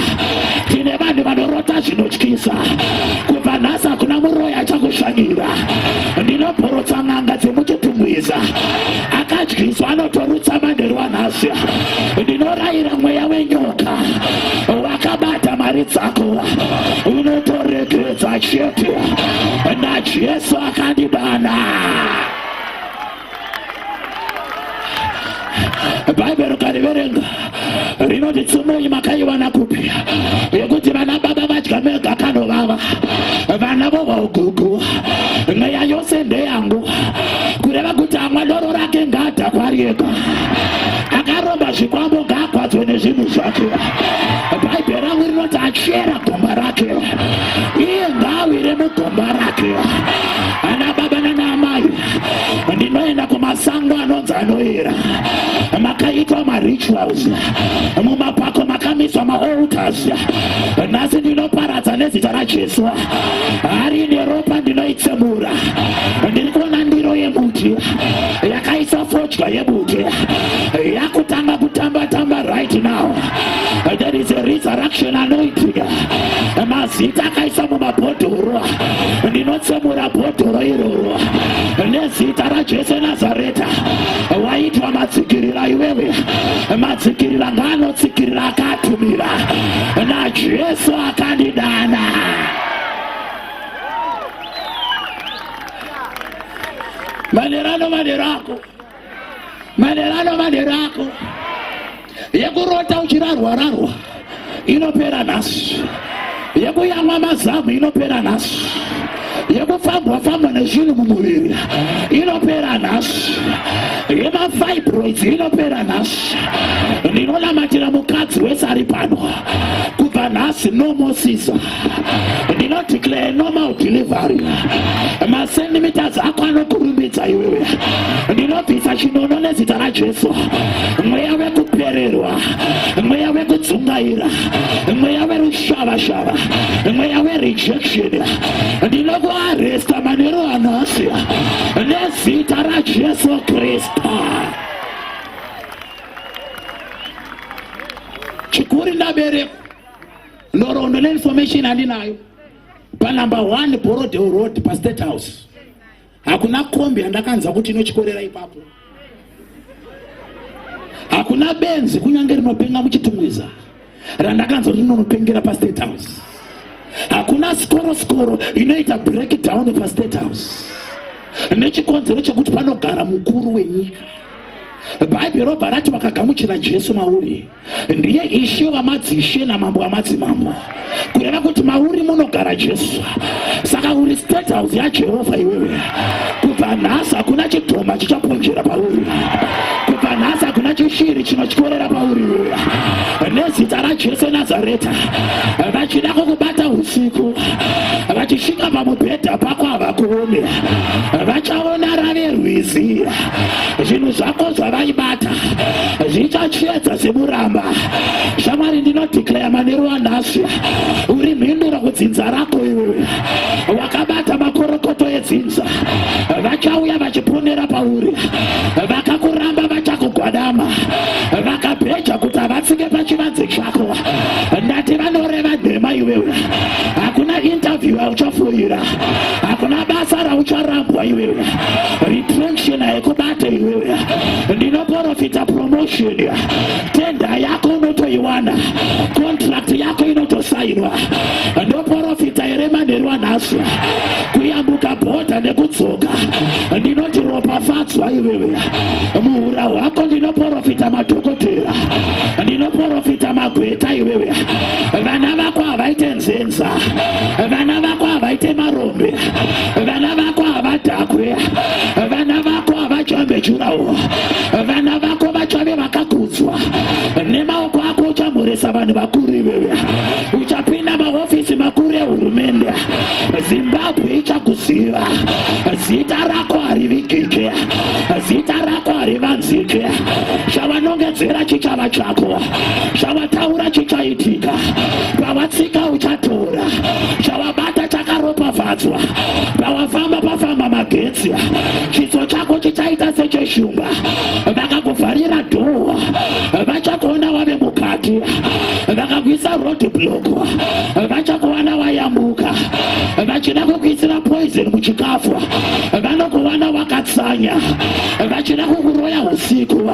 Speaker 1: Tine vanhu vanorota zvinotyisa. Kubva nhasi hakuna muroyi achakushanyira. ndinoporotsa n'anga dzemututumwiza akadyiswa anotorutsa manheru anhasi ndinorayira mweya wenyoka wakabata mari dzako unotoregeredza chete najesu akandidana bhaibheri ukariverenga rinoti tsumunyi makaiwana kupi yekuti vana baba vadya mega kanovava vana vohwa ugugu mweya yose ndeyangu kureva kuti amwa doro rake ngaadhakwarieka akaromba zvikwambo ngaakwadzwe nezvinhu zvake bhaibheri rangu rinoti achera gomba rake iye ngaawire mugomba rake ndinoenda kumasango anonzi anoera makaitwa marituals mumapako makamiswa maalters nhasi ndinoparadza nezita rajesu hari ine ropa ndinoitsemura ndiri kuona ndiro yemuti yakaisa fodya yemuti yakutanga kutamba tamba right now there is a resurrection anoiting mazita akaisa mumabhodhoro ndinotsemura bhodhoro iroro nezita raJesu Nazareta waitwa matsikirira iwewe matsikirira ngaanotsikirira akatumira naJesu akandidana manera no manera ako manhero ano manhero ako yekurota uchirarwa rarwa inopera nhasi yekuyamwa mazamu inopera nhasi yekufambwa fambwa nezvinhu mumuviri inopera nhasi yemafibroids inopera nhasi ndinonamatira mukadzi wese ari pano kubva nhasi nomo siza ndinodeclare normal delivery masendimitazi ako anokurumbidza iwewe ndinobvisa chinono nezita rajesu mweya wekupererwa mweya wekudzungaira mweya werushavashava mweya werejection ndinokuaresta manero anhasi nezita rajesu kristu chikuri ndaberekwa nhoroondo neinformation andinayo panumber one borodeo road pastate house hakuna kombi yandakanzwa kuti inochikorera ipapo hakuna benzi kunyange rinopenga muchitumwiza randakanzwa kuti rinonopengera pastate house hakuna sikoro sikoro inoita breakdown pastate house nechikonzero chekuti panogara mukuru wenyika bhaibheri robva rati vakagamuchira jesu mauri ndiye ishe wamadzishe namambo wamadzimambo kureva kuti mauri munogara jesu saka uri state house yajehovha iwewe kubva nhasi hakuna chidhoma chichaponjera pauri kubva nhasi hakuna chishiri chinotyorera pauri iwewe nezita rajesu nazareta vachida kukubata usiku vachisvika pamubhedha pako havakuone vachaona rave rwizi zvinhu zvako zvavaibata zvichachiedza semuramba shamwari ndinodhikleya manero wanhasi uri mhinduro kudzinza rako iwe wakabata makorokoto edzinza vachauya vachiponera pauri vakakuramba vachakugwadama vakabheja kuti havatsike pachivanze chako ndati vanoreva nhema iwewe hakuna interview auchafoira hakuna basa raucharambwa iwewe retraction haikubate iwewe ndinoporofita promotion tenda yako unotoiwana contract yako inotosainwa ndoporofita here manheru anhasi kuyambuka bhodha nekudzoka ndinoti ropafadzwa iwewe muhura hwako ndinoporofita madhokotera ndinoporofita magweta iwewe vana vako havaite nzenza vana vako havaite marombe vana vako havadhakwe vana vako havachombe jurawo vana vako vachave vakakudzwa nemaoko ako uchamhoresa vanhu vakuru iveve uchapinda mahofisi makuru ehurumende zimbabwe ichakuziva zita rako harivigike zita rako harivanzike chavanongedzera chichava chako chavataura chichaitika pavatsika uchatora bata chakaropafadzwa pawafamba pafamba magetsi chiso chako chichaita secheshumba vakakuvharira dhowa vachakuona wave mukati vakakuisa road block vachakuwana wayambuka vachida kukuisira poison muchikafu vanokuwana wakatsanya vachida kukuroya usiku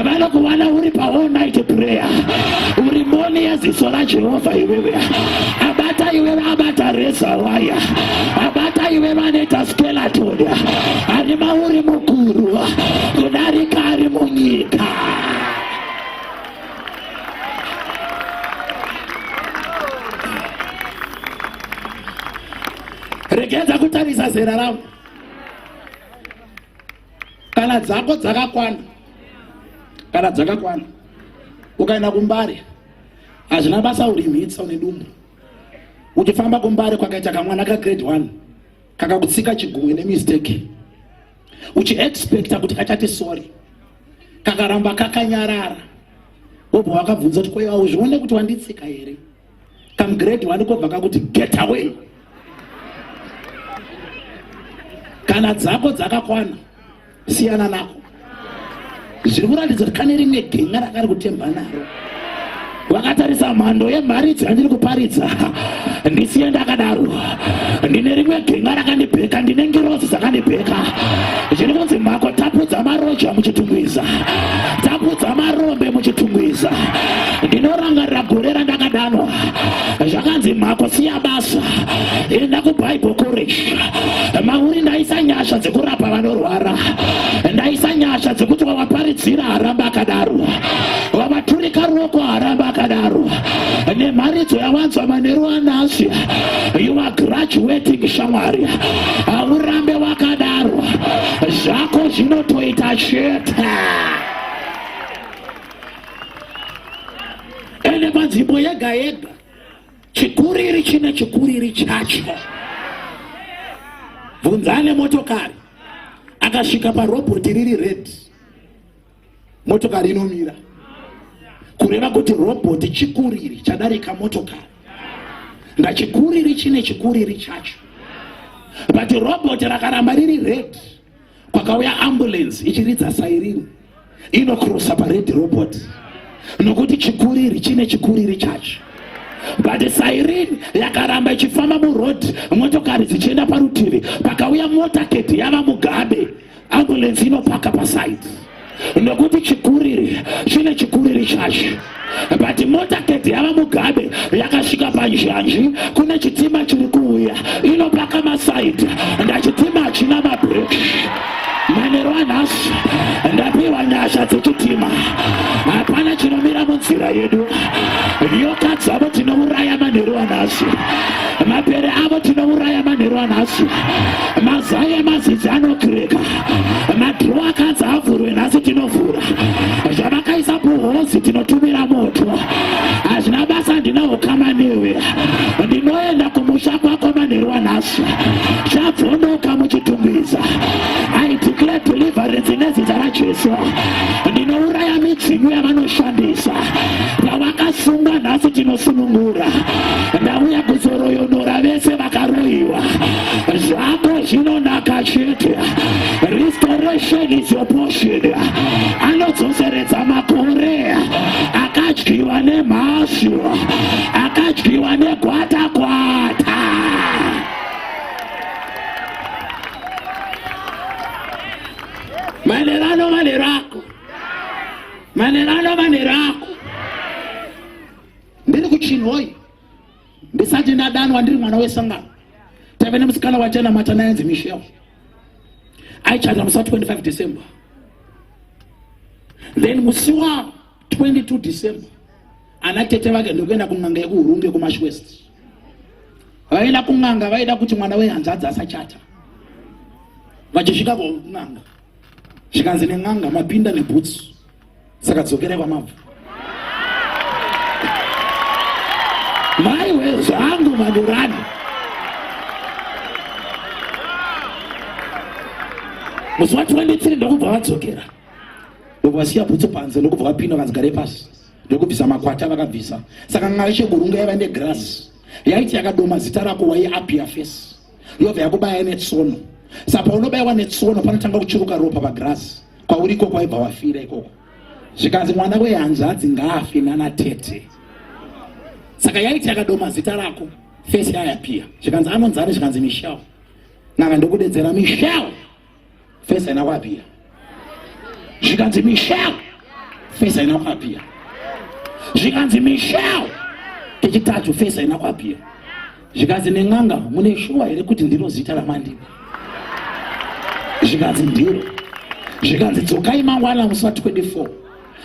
Speaker 1: vanokuwana uri paall night prayer uri moni yeziso rajehovha iwewe abata iwe vabata reza waya abata iwe vanoita skeleton ari mauri mukuru kudarika ari munyika regedza kutarisa zera ravo kana dzako dzakakwana kana dzakakwana ukaenda kumbare hazvina basa urimhitsa une dumbu uchifamba kumbare kwakaita kamwana kagrade one kakakutsika chigumwe nemistake uchiexpecta kuti kachati sorry kakaramba kakanyarara wobva wakabvunza kuti kweiwa uzvione kuti wanditsika here kamgrade one kobva kakuti get away kana dzako dzakakwana siyana nako zviri kuratidza kuti kane rimwe genga rakari kutemba naro vakatarisa mhando yemharidzo yandiri kuparidza ndisiye ndakadaro ndine rimwe genga rakandibheka ndine ngirozi dzakandibheka zviri kunzi mhako tapudza maroja muchitungwiza tapudza marombe muchitungwiza ndinorangarira gore randakadanwa zvakanzi mhako siya basa enda kubible college mauri ndaisa nyasha dzekurapa vanorwara ndaisa nyasha dzekuti wavaparidzira haramba akadaro wavaturika ruoko haramba akadaro nemharidzo yawanzwa manheru anasi you are graduating shamwari haurambe wakadaro zvako zvinotoita chete ende panzvimbo yega yega chikuriri chine chikuriri chacho bvunzane motokari akasvika parobot riri red motokari inomira kureva kuti robot chikuriri chadarika motokari ngachikuriri chine chikuriri chacho but robot rakaramba riri red kwakauya ambulance ichiridza sairini inokrosa pared robot nokuti chikuriri chine chikuriri chacho but sairini yakaramba ichifamba muroad motokari dzichienda parutivi pakauya motaketi yava mugabe ambulance inopaka pasaidi nokuti chikuriri chine chikuriri chacho but motaketi yava mugabe yakasvika panjanji kune chitima chiri kuuya inopaka masaidi ndachitima hachina mabreki manero anhasi ndapiwa nyasha dzechitima hapana chinomira munzira yedu nyoka dzavo tinouraya manheru anhasi mapere avo tinouraya manheru anhasi mazai emazizi anokireka madhiro akanzi avhurwe nhasi tinovhura zvamakaisa kuhozi tinotumira moto hazvina basa ndina ukama newe ndinoenda kumusha kwako manheru wanhasi chabvonoka muchitungwiza i declare deliverance nezita rajesu ndinouraya midzimu yavanoshandisa pavakasunga nhasi tinosunungura ndauya kuzoroyonora vese vakaroyiwa zvako zvinonaka chete restoration is your portion anodzoseredza makore akadyiwa nemhashu akadyiwa negwatakwata manero ano manero ako manero ano manero ako ndiri kuchinhoyi ndisati ndadanwa ndiri mwana wesangano tave nemusikana wachanamata nayenzi michel aichata musi wa 25 december then musi wa 22 december ana tete vake ndokuenda kun'anga yekuhurunge kumash west vaenda kun'anga vaida kuti mwana wehanzadzi asachata vachisvika kun'anga zvikanzi nen'anga mapinda nebhutsu saka dzokerai kwamabva maiwe zvangu manurani musi wa 23 ndokubva vadzokera ndokuvasiya bhutsu panze ndokubva vapinda vanzi gare pasi ndokubvisa makwata vakabvisa saka n'anga yesheburunga yaiva negrasi yaiti yakadoma zita rako waiapia face yobva yakubaya netsono sa paunobaiwa netsono panotanga kuchuruka ropa pagirazi kwauri ikoko waibva wafira ikoko zvikanzi mwana wehanzvadzi ngaafi nana tete saka yaiti yakadoma zita rako fesi yayapia zvikanzi anonzani zvikanzi michel naka ndokudedzera michel fesi haina kuapira zvikanzi michel fesi haina kuapira zvikanzi michel kechitatu fesi haina kuapira zvikanzi nen'anga mune shuwa here kuti ndiro zita ramandini zvikanzi ndiro zvikanzi dzokai mangwana musati 24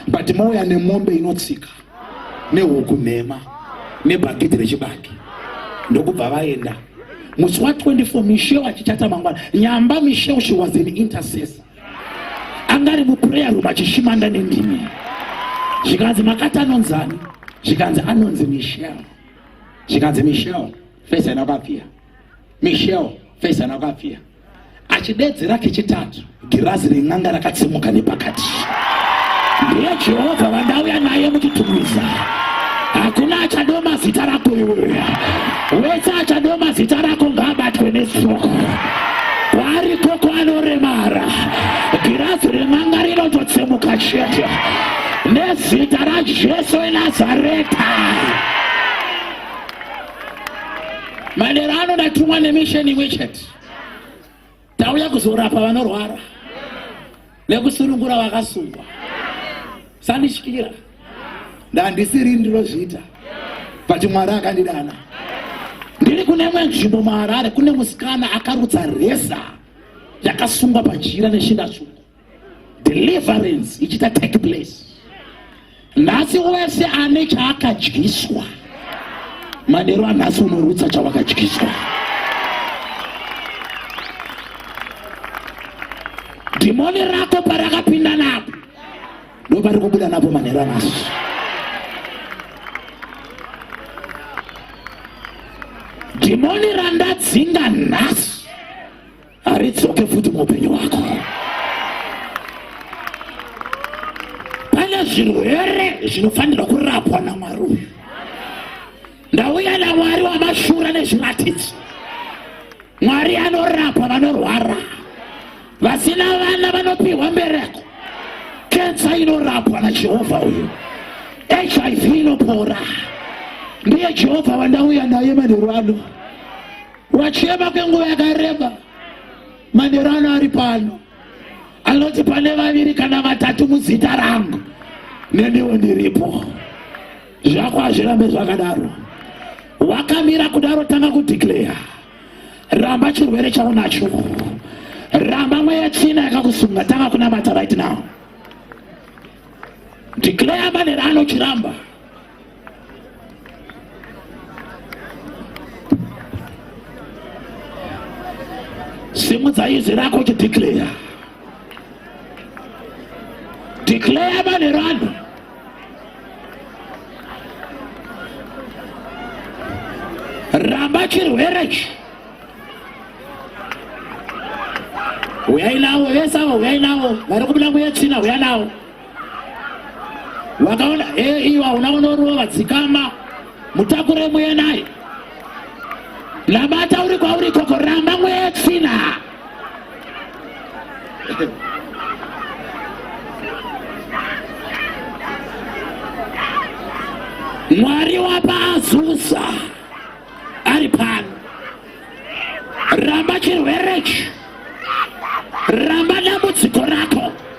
Speaker 1: but mouya nemombe inotsika nehuku nhema nebhakiti rechibaki ndokubva vaenda musi wa 24 misheu achitata mangwana nyamba misheu she was an intercessor anga ari muprayer room achishimanda nendimi zvikanzi makati anonzani zvikanzi anonzi misheu zvikanzi misheu fesa ina kwapfira misheu fesa ina kwapfira Achidedzera kechitatu, girazi ren'anga rakatsimuka nepakati. Ndiye Jehovha vandauya naye muchitumwiza. Hakuna achadoma zita rako iwe. Wese achadoma zita rako ngaabatwe nestroke. Kwaari koko anoremara. Girazi ren'anga rinototsemuka chete. Nezita raJesu weNazareta. Manera ano ndatumwa nemisheni imwe chete. tauya kuzorapa vanorwara nekusunungura vakasungwa sandityira ndandisiri ndinozviita but mwari akandidana ndiri kune imwe nzvimbo muharare kune musikana akarutsa resa yakasungwa pajira neshinda tsvuku deliverance ichita take place nhasi wese ane chaakadyiswa manero anhasi unorutsa chawakadyiswa dhimoni rako parakapinda napo ndo pari kubuda napo manero anhasi dhimoni randadzinga nhasi haridzoke futi muupenyu wako pane zvirwere zvinofanirwa kurapwa namwari uyu ndauya namwari wamashura nezviratidzo mwari anorapa vanorwara vasina vana vanopiwa mbereko kensa inorapwa najehovha uyu hiv inopora ndiye jehovha wandauya naye manheru ano Wachema kwenguva yakareba, manheru ano ari pano anoti pane vaviri kana vatatu muzita rangu neniwo ndiripo zvako hazvirambe zvakadaro wakamira kudaro tanga kudeclare ramba chirwere chaunacho ramba mweya china yakakusunga tanga kunamata right now declare manera anochiramba simudza izwi rako uchideclare declare manhero ano ramba chirwere ichi huyai navo vese avo huyai navo vari kubuda kuyetsvina huya navo wakaona hee eh, iwa unaonorova dzikama mutakure muye naye labata uri kwauri koko ramba mweye tsina mwari wapa azusa ari pano ramba chirwerechi ramba dambudziko rako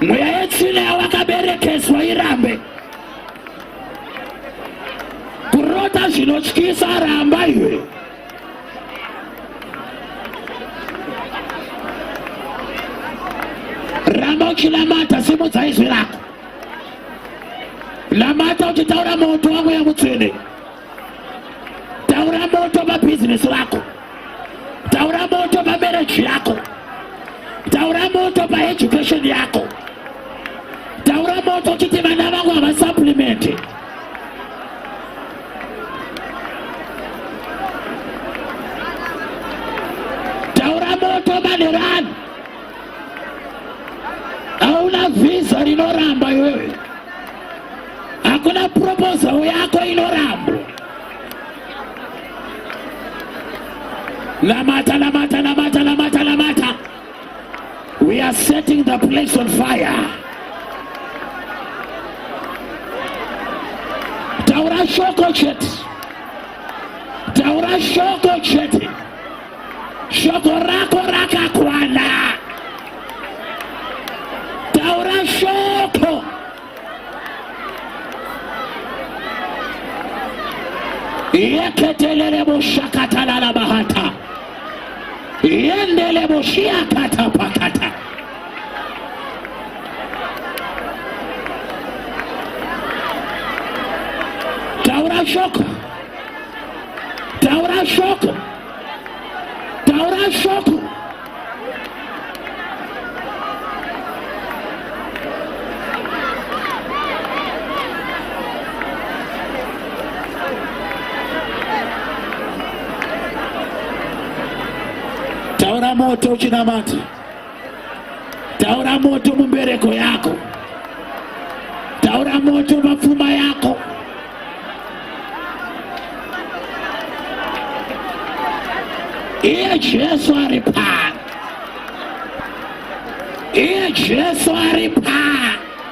Speaker 1: Mweya yetsvina yawakaberekeswa irambe kurota zvinotyisa ramba iwe ramba uchinamata simudza izwi rako namata uchitaura moto wamweya mutsvene taura moto pabhizinesi rako taura moto pamereji yako taura moto paeducation yako taura moto kuti vana vangu havasaplimenti taura moto manerani hauna vhiza rinoramba iwewe hakuna proposal yako inorambwa namata namata namata namata namata we are setting the place on fire taura shoko chete taura shoko chete Shoko rako rakakwana. Taura shoko. Yeketelele mushakatalala bahata. Yendele mushiakata pakata. Taura shoko. Taura shoko. Taura shoko. Taura moto uchinamata. taura moto mumbereko yako taura moto mapfuma yako iye jesu ari pano iye jesu ari pano